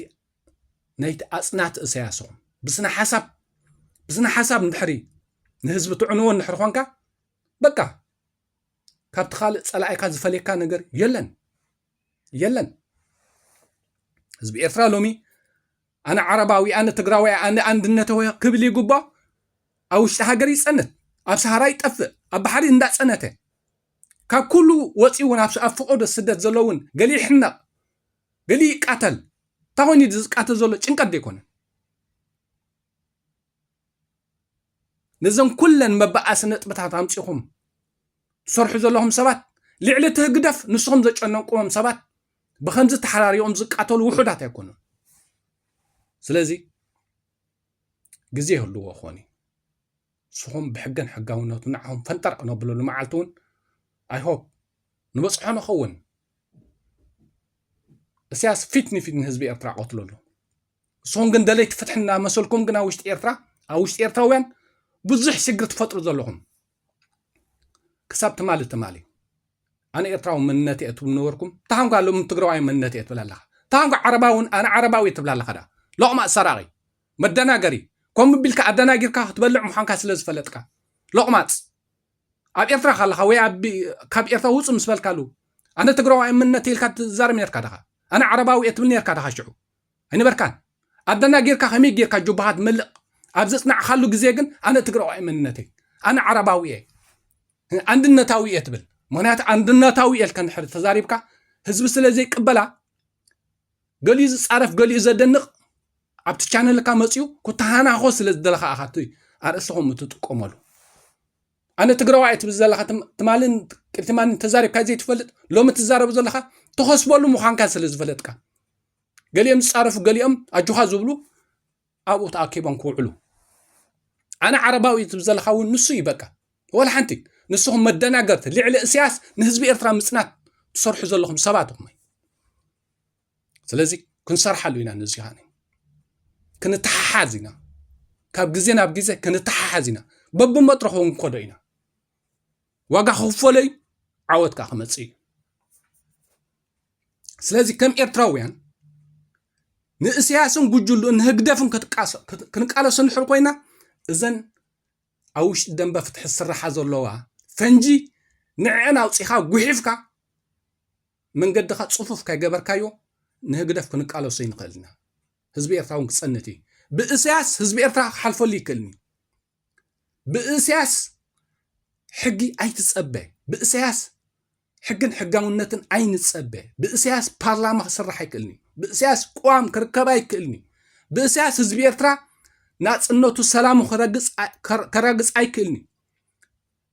ናይቲ ኣፅናት እሰያስ ኢኹም ብስነ ሓሳብ ብስነ ሓሳብ እንድሕሪ ንህዝቢ ትዕንዎ እንድሕሪ ኮንካ በቃ ካብቲ ካልእ ፀላኢካ ዝፈልየካ ነገር የለን የለን ህዝቢ ኤርትራ ሎሚ ኣነ ዓረባዊ ኣነ ትግራዋይ ኣነ ኣንድነተወ ክብል ይግብኦ ኣብ ውሽጢ ሃገር ይፀንት ኣብ ሰሃራ ይጠፍእ ኣብ ባሕሪ እንዳፀነተ ካብ ኩሉ ወፂኡ እውን ኣብ ፍቆዶ ስደት ዘሎ እውን ገሊ ይሕነቕ ገሊ ይቃተል እንታይ ኮይኑ ዝቃተል ዘሎ ጭንቀት ዘይኮነን ነዘን ኩለን መበኣሲ ነጥብታት ኣምፂኹም ትሰርሑ ዘለኹም ሰባት ልዕሊ እቲ ህግደፍ ንስኹም ዘጨነንቁዎም ሰባት ብከምዚ ተሓራሪዮም ዝቃተሉ ውሑዳት ኣይኮኑን ስለዚ ግዜ ይህልዎ ክኾን እዩ ንስኹም ብሕግን ሕጋውነቱ ንዓኹም ፈንጠር ክነብለሉ መዓልቲ እውን ኣይሆፕ ንበፅሖ ንኸውን እስያስ ፊት ንፊት ንህዝቢ ኤርትራ ቀትሎ ኣሎ ንስኹም ግን ደለይቲ ፍትሒ እናመሰልኩም ግን ኣብ ውሽጢ ኤርትራ ኣብ ውሽጢ ኤርትራውያን ብዙሕ ሽግር ትፈጥሩ ዘለኹም ክሳብ ትማሊ ትማሊ ኣነ ኤርትራዊ መንነት እየ ትብሉ ነበርኩም ታንኳ ሎም ትግራዋይ መንነት እየ ትብል ኣለኻ ታንኳ ዓረባውን ኣነ ዓረባዊ ትብል ኣለኻ ዳ ሎቕማፅ ሰራቒ መደናገሪ ከምኡ ቢልካ ኣደናጊርካ ክትበልዕ ምዃንካ ስለ ዝፈለጥካ ሎቕማፅ ኣብ ኤርትራ ካለኻ ወይ ካብ ኤርትራ ውፅ ምስ በልካሉ ኣነ ትግራዋይ መንነት ኢልካ ትዛረብ ነርካ ዳኻ ኣነ ዓረባዊ እየ ትብል ነርካ ዳኻ ሽዑ ኣይነበርካን ኣደናጊርካ ከመይ ጌርካ ጆባኻ ትመልእ ኣብ ዘፅናዕካሉ ግዜ ግን ኣነ ትግራዋይ መንነት እየ ኣነ ዓረባዊ እየ ኣንድነታዊ እየ ትብል ምክንያቱ ኣንድነታዊ እየ ልከ ንድሕሪ ተዛሪብካ ህዝቢ ስለ ዘይቅበላ ገሊኡ ዝፃረፍ ገሊኡ ዘደንቕ ኣብቲ ቻነልካ መፅኡ ኩተሃናኾ ስለ ዝደለኻ ኢኻ እቲ ኣርእስቲ ከምኡ ትጥቀመሉ ኣነ ትግራዋይ ትብል ዘለካ ትማልን ቅድትማልን ተዛሪብካ ዘይትፈልጥ ሎሚ ትዛረብ ዘለካ ተኸስበሉ ምዃንካ ስለ ዝፈለጥካ ገሊኦም ዝፃረፉ ገሊኦም ኣጆኻ ዝብሉ ኣብኡ ተኣኪቦም ክውዕሉ ኣነ ዓረባዊ እዩ ትብል ዘለካ እውን ንሱ እዩ በቃ ወላ ሓንቲ ንስኹም መደናገርቲ ልዕሊ እስያስ ንህዝቢ ኤርትራ ምፅናት ትሰርሑ ዘለኹም ሰባት ኢኹም ስለዚ ክንሰርሓሉ ኢና ነዚ ኸዓኒ ክንተሓሓዝ ኢና ካብ ግዜ ናብ ግዜ ክንተሓሓዝ ኢና በብመድረኹ ክንከዶ ኢና ዋጋ ክኽፈሎ እዩ ዓወት ከዓ ክመፅእ እዩ ስለዚ ከም ኤርትራውያን ንእስያስን ጉጅሉ ንህግደፍን ክንቃለሶ ንድሕር ኮይና እዘን ኣብ ውሽጢ ደንበ ፍትሒ ዝስራሓ ዘለዋ ፈንጂ ንዕዐን ኣውፂኻ ጉሒፍካ መንገድኻ ፅፉፍ ከይገበርካዮ ንህግደፍ ክንቃለሶ ይንኽእል ኢና ህዝቢ ኤርትራ እውን ክፀንት እዩ ብእስያስ ህዝቢ ኤርትራ ክሓልፈሉ ይክእልኒ ብእስያስ ሕጊ ኣይትጸበ ብእስያስ ሕግን ሕጋውነትን ኣይንጸበ ብእስያስ ፓርላማ ክስራሕ ኣይክእልንዩ ብእስያስ ቅዋም ክርከብ ኣይክእልንዩ ብእስያስ ህዝቢ ኤርትራ ናጽነቱ ሰላሙ ከረግጽ ኣይክእልንዩ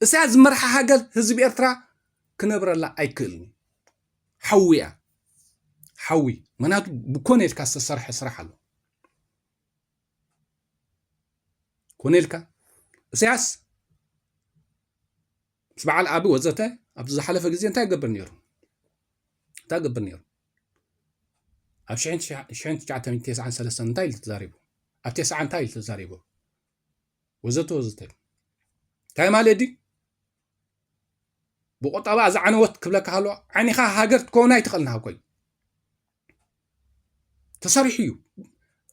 እስያስ ዝመርሓ ሃገር ህዝቢ ኤርትራ ክነብረላ ኣይክእልንዩ ሓዊያ ሓዊ ምክንያቱ ብኮነ ኢልካ ዝተሰርሐ ስራሕ ኣሎ ኮነ ኢልካ እሰያስ ምስ በዓል ኣቢ ወዘተ ኣብዚ ዝሓለፈ ግዜ እንታይ ይገብር ነይሩ እንታይ ይገብር ነይሩ ኣብ 1993 እንታይ ኢሉ ተዛሪቡ ኣብ ቴስዓ እንታይ ኢሉ ተዛሪቡ ወዘተ ወዘተ እንታይ ማለት ድዩ ብቁጠባ ዝዓነወት ክብለካ ከሎ ዓኒኻ ሃገር ትከውን ኣይትኽእልን ሃብኮይ ተሰሪሑ እዩ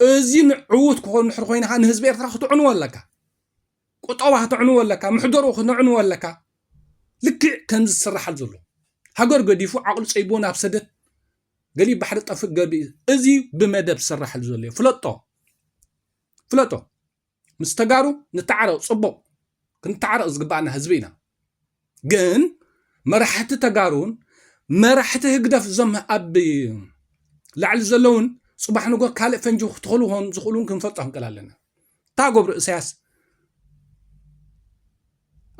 እዚ ንዕውት ክኾን ንሕር ኮይና ከዓ ንህዝቢ ኤርትራ ክትዕንዎ ኣለካ ቁጠባ ክትዕንዎ ኣለካ ምሕደሩ ክትዕንዎ ኣለካ ልክዕ ከም ዝስራሓል ዘሎ ሃገር ገዲፉ ዓቕሉ ፀይቦ ናብ ሰደት ገሊ ባሕሪ ጠፍእ ገቢ እዚ ብመደብ ዝስራሓል ዘሎ እዩ ፍለጦ ፍለጦ ምስ ተጋሩ ንተዓረቕ ፅቡቕ ክንተዓረቕ ዝግባኣና ህዝቢ ኢና ግን መራሕቲ ተጋሩን መራሕቲ ህግደፍ እዞም ኣብ ላዕሊ ዘለውን ፅባሕ ንጎ ካልእ ፈንጂ ክትኸሉ ኾን ዝኽእሉን ክንፈልጦ ክንቀል ኣለና እታ ገብሩ እሳያስ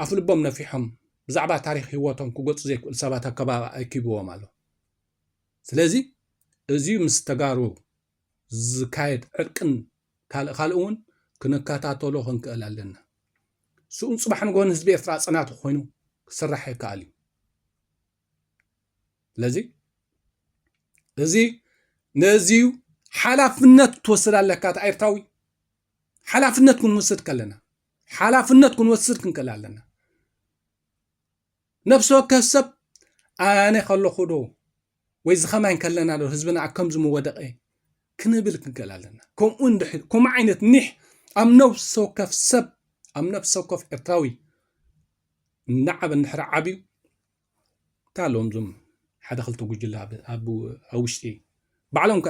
ኣፍ ልቦም ነፊሖም ብዛዕባ ታሪክ ህይወቶም ክገፁ ዘይክእል ሰባት ኣከባቢ ኣኪብዎም ኣሎ ስለዚ እዚ ምስ ተጋሩ ዝካየድ ዕርቅን ካልእ ካልእን እውን ክንከታተሎ ክንክእል ኣለና። ስኡን ፅባሕ ንጎን ህዝቢ ኤርትራ ፅናቱ ኮይኑ ክስራሕ ይከኣል እዩ። ስለዚ እዚ ነዚዩ ሓላፍነት ክትወስድ ኣለካ እቲ ኤርትራዊ ሓላፍነት ክንወስድ ከለና ሓላፍነት ክንወስድ ክንክእል ኣለና ነፍሲ ወከፍ ሰብ ኣነ ከለኹ ዶ ወይ ዝኸማይ ከለና ዶ ህዝብና ኣብ ከምዚ ምወደቐ ክንብል ክንከል ኣለና ከምኡ እንድሕር ከምኡ ዓይነት ኒሕ ኣብ ነፍሲ ወከፍ ሰብ ኣብ ነፍሲ ወከፍ ኤርትራዊ እናዓበ እንድሕር ዓብዩ እንታይ ኣለዎም እዞም ሓደ ክልተ ጉጅለ ኣብ ውሽጢ ባዕሎም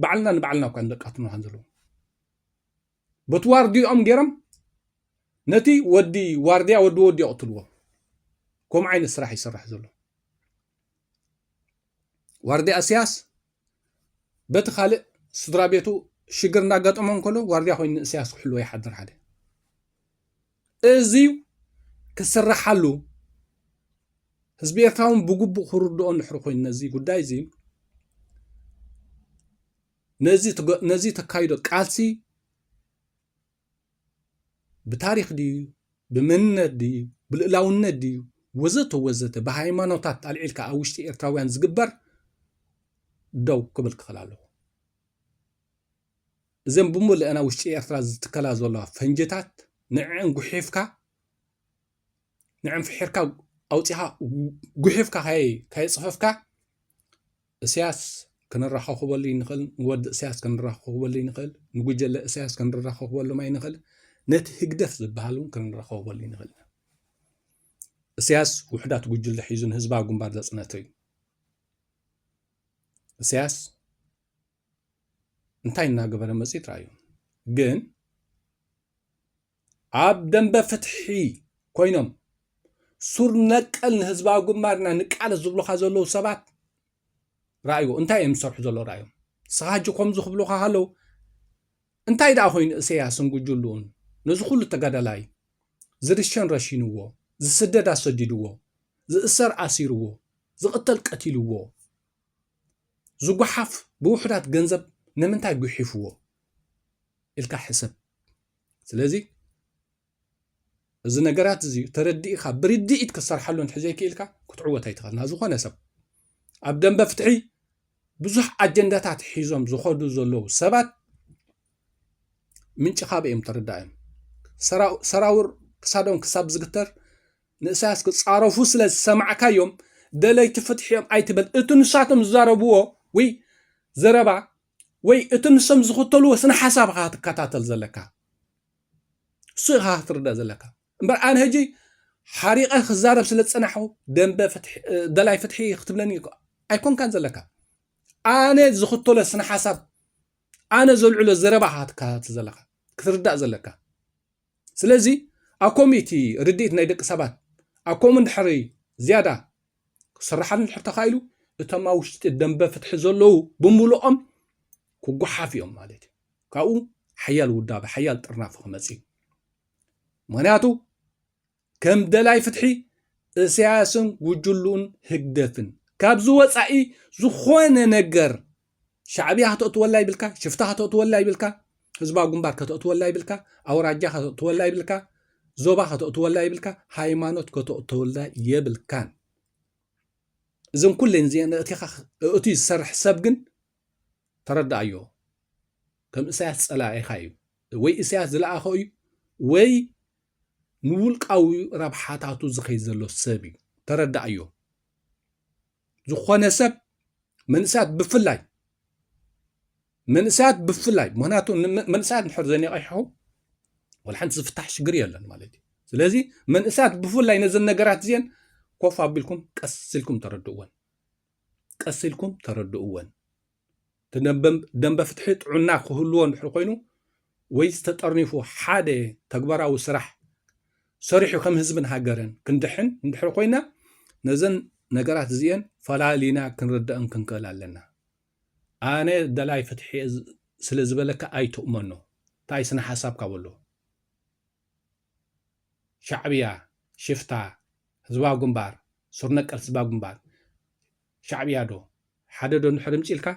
ባዕልና ንባዕልና እኳ ንደቃትምና ከም ዘለዎም በቲ ዋርድይኦም ጌሮም ነቲ ወዲ ዋርድያ ወዲ ወዲ የቕትልዎ ከምኡ ዓይነት ስራሕ ይስራሕ ዘሎ ዋርድያ እስያስ በቲ ካልእ ስድራ ቤቱ ሽግር እንዳጋጠሞ እንከሎ ዋርድያ ኮይኑ ንእስያስ ክሕልዎ ይሓድር ሓደ እዚ ክስራሓሉ ህዝቢ ኤርትራ እውን ብግቡእ ክርድኦ እንድሕሪ ኮይኑ ነዚ ጉዳይ እዚ ነዚ ተካይዶ ቃልሲ ብታሪኽ ድዩ ብመንነት ድዩ ብልእላውነት ድዩ ወዘተ ወዘተ ብሃይማኖታት ኣልዒልካ ኣብ ውሽጢ ኤርትራውያን ዝግበር ደው ክብል ክኽእል ኣለኹ እዘን ብምልአና ውሽጢ ኤርትራ ዝትከላ ዘለዋ ፈንጅታት ንዕን ጉሒፍካ ንዕን ፍሒርካ ኣውፂኻ ጉሒፍካ ካየፅፈፍካ እስያስ ክንራኸኹበሉ ኣይንኽእል፣ ንወዲ እስያስ ክንራኸኹበሉ ኣይንኽእል፣ ንጉጀለ እስያስ ክንራኸኹበሎም ኣይንኽእል፣ ነቲ ህግደፍ ዝበሃል እውን ክንራኸኹበሉ ኣይንኽእል ኢና። እስያስ ውሕዳት ጉጅለ ሒዙ ንህዝባዊ ግንባር ዘጽነተ እዩ። እስያስ እንታይ እናገበረ መጽት ራዩ ግን ኣብ ደምበ ፍትሒ ኮይኖም ሱር ነቀል ንህዝባዊ ግንባርና ንቃለስ ዝብሉኻ ዘለዉ ሰባት ራእይዎ እንታይ እዮም ዝሰርሑ ዘሎ ራእዮም ንስኻ ሕጂ ከምዚ ክብሉኻ ከለዉ እንታይ ደኣ ኮይኑ እሰያስን ጉጅሉን ነዚ ኩሉ ተጋዳላይ ዝርሸን ረሺንዎ ዝስደድ ኣሰዲድዎ ዝእሰር ኣሲርዎ ዝቕተል ቀቲልዎ ዝጓሓፍ ብውሑዳት ገንዘብ ንምንታይ ጉሒፍዎ ኢልካ ሕሰብ ስለዚ እዚ ነገራት እዚ ተረዲእካ ብርድኢት ክትሰርሓሉ እንተዘይክኢልካ ክትዕወት ኣይትኽእልና ዝኾነ ሰብ ኣብ ደንበ ፍትሒ ብዙሕ ኣጀንዳታት ሒዞም ዝኸዱ ዘለዉ ሰባት ምንጪ ካብ እዮም ተረዳእዮም ሰራውር ክሳዶም ክሳብ ዝግተር ንእሳያስ ክፃረፉ ስለ ዝሰማዕካዮም ደለይቲ ፍትሒ እዮም ኣይትበል እቲ ንሳቶም ዝዛረብዎ ወይ ዘረባ ወይ እቲ ንሶም ዝኽተልዎ ስነ ሓሳብ ኢኻ ትከታተል ዘለካ እሱ ኢኻ ክትርዳእ ዘለካ እምበር ኣነ ሕጂ ሓሪቐ ክዛረብ ስለ ዝጸናሕኹ ደንበ ደላይ ፍትሒ ክትብለኒ ኣይኮንካን ዘለካ ኣነ ዝኽተሎ ስነ ሓሳብ ኣነ ዘልዕሎ ዘረባ ኢኻ ክትከታተል ዘለካ ክትርዳእ ዘለካ ስለዚ ኣብ ኮምኡ እቲ ርድኢት ናይ ደቂ ሰባት ኣብ ኮምኡ እንድሕሪ ዝያዳ ክስራሓሉ እንድሕር ተኻኢሉ እቶም ኣብ ውሽጢ ደንበ ፍትሒ ዘለዉ ብምሉኦም ክጓሓፍ እዮም ማለት እዩ ካብኡ ሓያል ውዳበ ሓያል ጥርናፊ ክመፅ እዩ ምክንያቱ ከም ደላይ ፍትሒ እሰያስን ጉጅልኡን ህግደፍን ካብዚ ወጻኢ ዝኾነ ነገር ሻዕብያ ከተእትወላ ይብልካ፣ ሽፍታ ከተእትወላ ይብልካ፣ ህዝባዊ ግንባር ከተእትወላ ይብልካ፣ ኣውራጃ ከተእትወላ ይብልካ፣ ዞባ ከተእትወላ ይብልካ፣ ሃይማኖት ከተእትወላ የብልካን። እዘን ኩለን እዚአን እእቲኻ እእቲ ዝሰርሕ ሰብ ግን ተረዳኣዮ ከም እሳያስ ፀላኢኻ እዩ ወይ እሳያስ ዝለኣኸ እዩ ወይ ንውልቃዊ ረብሓታቱ ዝኸይ ዘሎ ሰብ እዩ ተረዳእዮ ዝኾነ ሰብ መንእሰያት ብፍላይ መንእሰያት ብፍላይ ምክንያቱ መንእሰያት ንሕር ዘኒቐሑ ወላ ሓንቲ ዝፍታሕ ሽግር የለን ማለት እዩ ስለዚ መንእሰያት ብፍላይ ነዘን ነገራት እዚአን ኮፍ ኣቢልኩም ቀስ ኢልኩም ተረድእወን ቀስ ኢልኩም ተረድእወን እቲ ደምበ ፍትሒ ጥዑና ክህልዎ እንድሕሪ ኮይኑ ወይስ ተጠርኒፉ ሓደ ተግባራዊ ስራሕ ሰሪሑ ከም ህዝብን ሃገርን ክንድሕን እንድሕሪ ኮይና ነዘን ነገራት እዚኤን ፈላሊና ክንርደእን ክንክእል ኣለና። ኣነ ደላይ ፍትሒ እየ ስለ ዝበለካ ኣይትእመኖ። እንታይ ስነ ሓሳብካ በሎ። ሻዕብያ ሽፍታ ህዝባዊ ግንባር ሱር ነቀል ህዝባዊ ግንባር ሻዕብያ ዶ ሓደ ዶ እንድሕር እምጺልካ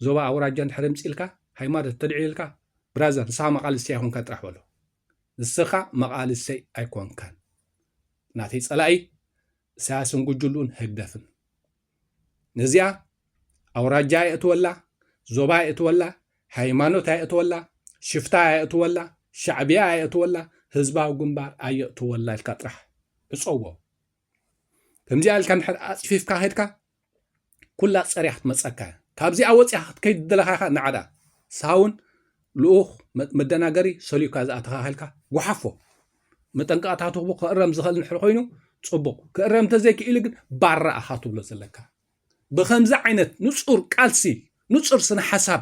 ዞባ ኣውራጃ እንድሕር እምጺልካ ሃይማኖት ተልዒልካ ብራዘር ንስኻ መቓልስቲ ኣይኮንካን ጥራሕ በሎ ንስኻ መቓልሰይ ኣይኮንካን ናተይ ጸላኢ እሳያስን ጉጅሉን ህግደፍን ነዚኣ ኣውራጃ የእትወላ ዞባ የእትወላ ሃይማኖት ኣየእትወላ ሽፍታ ኣየእትወላ ሻዕብያ ኣየእትወላ ህዝባዊ ግንባር ኣየእትወላ ኢልካ ጥራሕ ዕፀዎ ከምዚኣ ኢልካ እንድሕር ኣፅፊፍካ ከድካ ኩላ ፀሪያ ክትመፀካ እያ ካብዚኣ ወፂኻ ክትከይድ ዘለካ ኢኻ ንዓዳ ሳውን ልኡኽ መደናገሪ ሰልዩካ ዝኣተኻኺልካ ጉሓፎ መጠንቀቕታቱ ክእረም ዝኽእል ንድሕር ኮይኑ ፅቡቕ ክእረም እንተዘይክኢሉ ግን ባራ ኣኻ ትብሎ ዘለካ ብከምዚ ዓይነት ንፁር ቃልሲ ንፁር ስነ ሓሳብ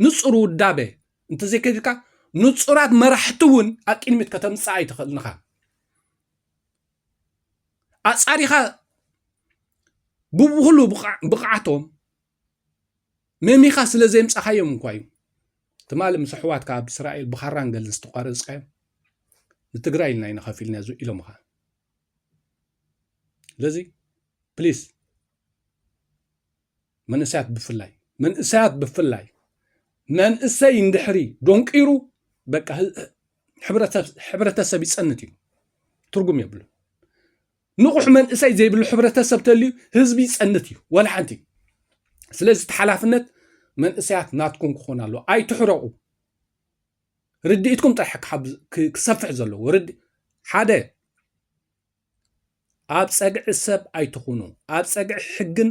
ንፁር ውዳበ እንተዘይከድካ ንፁራት መራሕቲ እውን ኣብ ቅድሚት ከተምፅእ ኣይትኽእልንኻ ኣፃሪኻ ብብኩሉ ብቕዓቶም መሚኻ ስለ ዘይምፃኻዮም እንኳ እዩ ትማሊ ምስ ኣሕዋትካ ኣብ እስራኤል ብኻራን ገልን ዝተቋረፅካዮም ንትግራይ ኢልና ኢና ከፊልና ኢሎምኻ ስለዚ ፕሊስ መንእሰያት ብፍላይ መንእሰያት ብፍላይ መንእሰይ እንድሕሪ ዶንቂሩ በቃ ሕብረተሰብ ይጸንት እዩ ትርጉም የብሉ ንቑሕ መንእሰይ ዘይብሉ ሕብረተሰብ ተልዩ ህዝቢ ይጸንት እዩ ወላ ሓንቲ ስለዚ እቲ ሓላፍነት መንእሰያት ናትኩም ክኾን ኣለዎ ኣይትሕረቑ ርድኢትኩም ጥራሕ ክሰፍሕ ዘለዎ ሓደ ኣብ ጸግዒ ሰብ ኣይትኹኑ። ኣብ ጸግዒ ሕግን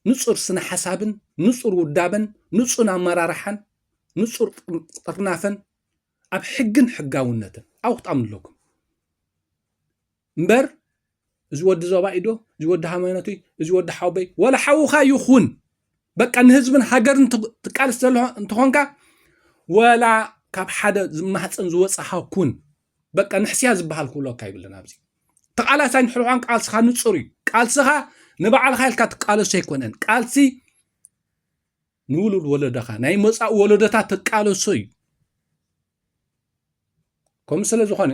ንጹር ስነ ሓሳብን ንጹር ውዳበን ንጹን ኣመራርሓን ንጹር ጥርናፈን ኣብ ሕግን ሕጋውነትን ኣውጣም ኣለኩም እምበር እዚ ወዲ ዞባ ኢዶ እዚ ወዲ ሃይማኖት እዚ ወዲ ሓውበይ ወላ ሓውካ ይኹን በቃ ንህዝብን ሃገርን ትቃልስ ዘሎ እንትኾንካ ወላ ካብ ሓደ ዝማህፀን ዝወፅኻ ኩን በቃ ንሕስያ ዝበሃል ክብለካ ይብልን ኣብዚ ተቃላሳይ ንሕርሖን ቃልስኻ ንፁር እዩ ቃልስኻ ንባዕልኻ ኢልካ ትቃለሶ ኣይኮነን ቃልሲ ንውሉድ ወለደኻ ናይ መፃእ ወለዶታት ትቃለሶ እዩ ከምኡ ስለ ዝኾነ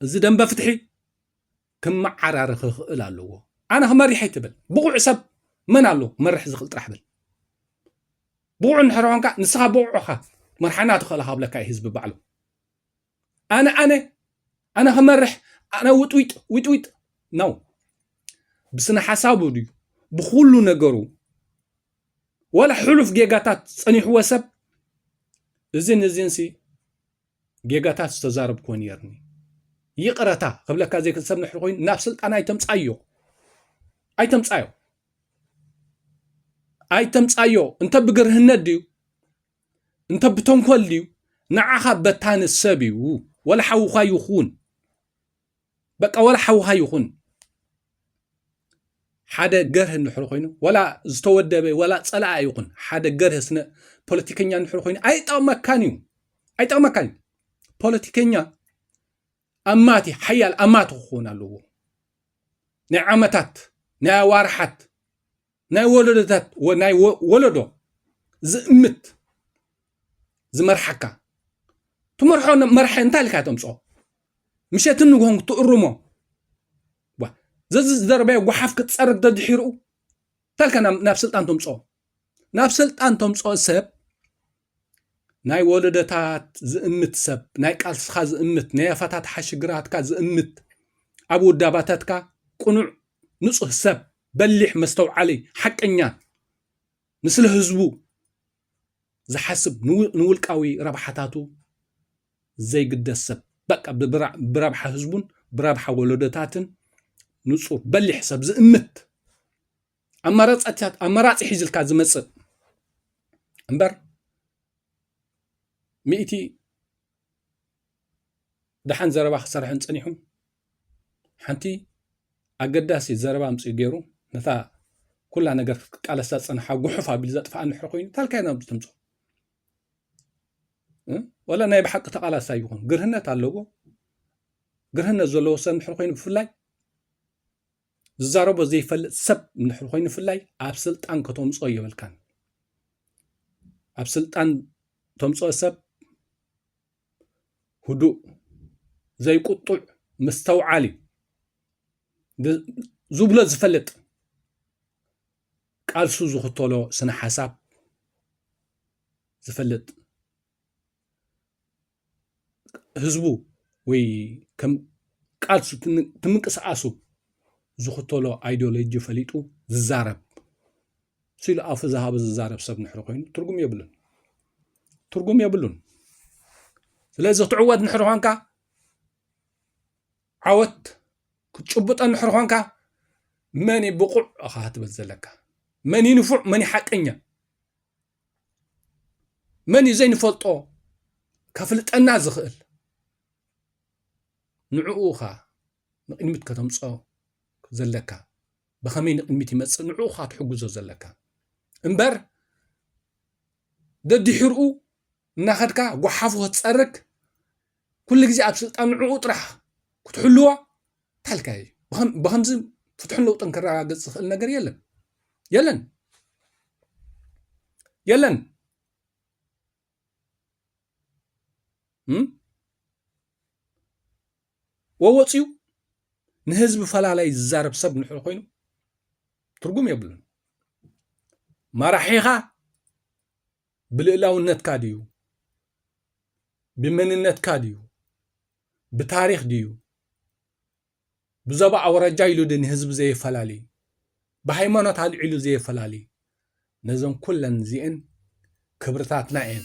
እዚ ደንበ ፍትሒ ክመዓራረ ክኽእል ኣለዎ ኣነ ክመሪሕ ኣይትብል ብቑዕ ሰብ መን ኣሎ ክመርሕ ዝኽእል ጥራሕ ብል ብቑዕ እንድሕር ንስኻ ብቑዕኻ መርሓና ትኽእልኻ ብለካ እዩ ህዝቢ ባዕሉ ኣነ ኣነ ኣነ ክመርሕ ኣነ ውጥዊጥ ዊጥዊጥ ነው። ብስነ ሓሳቡ ድዩ ብኩሉ ነገሩ ወላ ሕሉፍ ጌጋታት ፀኒሕዎ ሰብ እዚን እዚን ሲ ጌጋታት ዝተዛረብክዎ ነርኒ ይቕረታ ክብለካ ዘይክእል ሰብ ንሕሪ ኮይኑ ናብ ስልጣን ኣይተምፃዮ ኣይተምፃዮ ኣይተምፃዮ እንተ ብግርህነት ድዩ እንተ ብተንኮል ድዩ ንዓኻ በታኒ ሰብ እዩ ወላ ሓውኻ ይኹን በቃ ወላ ሓውኻ ይኹን ሓደ ገርህ እንድሕር ኮይኑ ወላ ዝተወደበ ወላ ፀላኣ ይኹን ሓደ ገርህ ስነ ፖለቲከኛ እንድሕር ኮይኑ ኣይጠቕመካን እዩ ኣይጠቕመካን እዩ ፖለቲከኛ ኣማቲ ሓያል ኣማቲ ክኸውን ኣለዎ ናይ ዓመታት ናይ ኣዋርሓት ናይ ወለዶታት ወ- ናይ ወ- ወለዶ ዝእምት ዝመርሓካ ትመርሖ ነ- መራሒ እንታይ ኢልካ ተምፅኦ ምሸትን ንግሆን ክትእርሞ ዋ ዘዚ ዝደረበዮ ጓሓፍ ክትፀርግ ደድሒርኡ እንታይ ኢልካ ናብ ናብ ስልጣን ተምፅኦ ናብ ስልጣን ተምፅኦ ሰብ ናይ ወለዶታት ዝእምት ሰብ ናይ ቃልስኻ ዝእምት ናይ ኣፈታትሓ ሽግራትካ ዝእምት ኣብ ውዳባታትካ ቅኑዕ ንፁህ ሰብ በሊሕ መስተውዓሊ ሓቀኛ ንስለ ህዝቡ ዝሓስብ ንውልቃዊ ረብሓታቱ ዘይግደስ ሰብ በቃ ብረብሓ ህዝቡን ብረብሓ ወለዶታትን ንጹር በሊሕ ሰብ ዝእምት ኣማራጺታት ኣማራጺ ሒዝልካ ዝመጽእ እምበር ሚእቲ ደሓን ዘረባ ክሰርሕን ጸኒሑ ሓንቲ ኣገዳሲት ዘረባ ኣምፅኡ ገይሩ ነታ ኩላ ነገር ክትቃለሳ ዝፀንሓ ጉሑፍ ኣቢሉ ዘጥፍኣ እንድሕር ኮይኑ ታልካይ ናብ ተምፅኦ ወላ ናይ ብሓቂ ተቃላሳ ይኹን ግርህነት ኣለዎ ግርህነት ዘለዎ ሰብ እንድሕር ኮይኑ ብፍላይ ዝዛረቦ ዘይፈልጥ ሰብ እንድሕር ኮይኑ ብፍላይ ኣብ ስልጣን ከተምፅኦ የብልካን ኣብ ስልጣን ተምፅኦ ሰብ ህዱእ ዘይቁጡዕ ምስተውዓል እዩ ዝብሎ ዝፈልጥ ቃልሱ ዝኽተሎ ስነ ሓሳብ ዝፈልጥ ህዝቡ ወይ ከም ቃልሱ ትምንቅስቓሱ ዝኽተሎ ኣይድዮሎጂ ፈሊጡ ዝዛረብ። ሲሉ ኣፉ ዝሃበ ዝዛረብ ሰብ ንሕሪ ኮይኑ ትርጉም የብሉን ትርጉም የብሉን ስለዚ ክትዕወት ንሕሪ ኾንካ ዓወት ክትጭብጦ ንሕሪ ኾንካ መን እዩ ብቑዕ እኻ ክትብል ዘለካ መን እዩ ንፉዕ መን እዩ ሓቀኛ መን እዩ ዘይንፈልጦ ከፍልጠና ዝኽእል ንዕኡ እኻ ንቅድሚት ከተምፅኦ ዘለካ ብኸመይ ንቕድሚት ይመጽእ ንዕኡ ኸኣ ትሕግዞ ዘለካ እምበር ደድሕርኡ እናኸድካ ጓሓፉ ክትጸርግ ኩሉ ግዜ ኣብ ስልጣን ንዕኡ ጥራሕ ክትሕልዋ ታልካ እዩ ብከምዚ ፍትሕን ለውጥን ክረጋገጽ ዝኽእል ነገር የለን የለን የለን ወወፅኡ ንህዝቢ ፈላላይ ዝዛረብ ሰብ ንሕሪ ኮይኑ ትርጉም የብሉን ማራሒኻ ብልእላውነትካ ድዩ ብመንነትካ ድዩ ብታሪክ ድዩ ብዘባ ኣውራጃ ኢሉ ድ ንህዝቢ ዘየፈላሊ ብሃይማኖት ኣልዒሉ ዘየፈላሊ ነዘን ኩለን እዚአን ክብርታትና እየን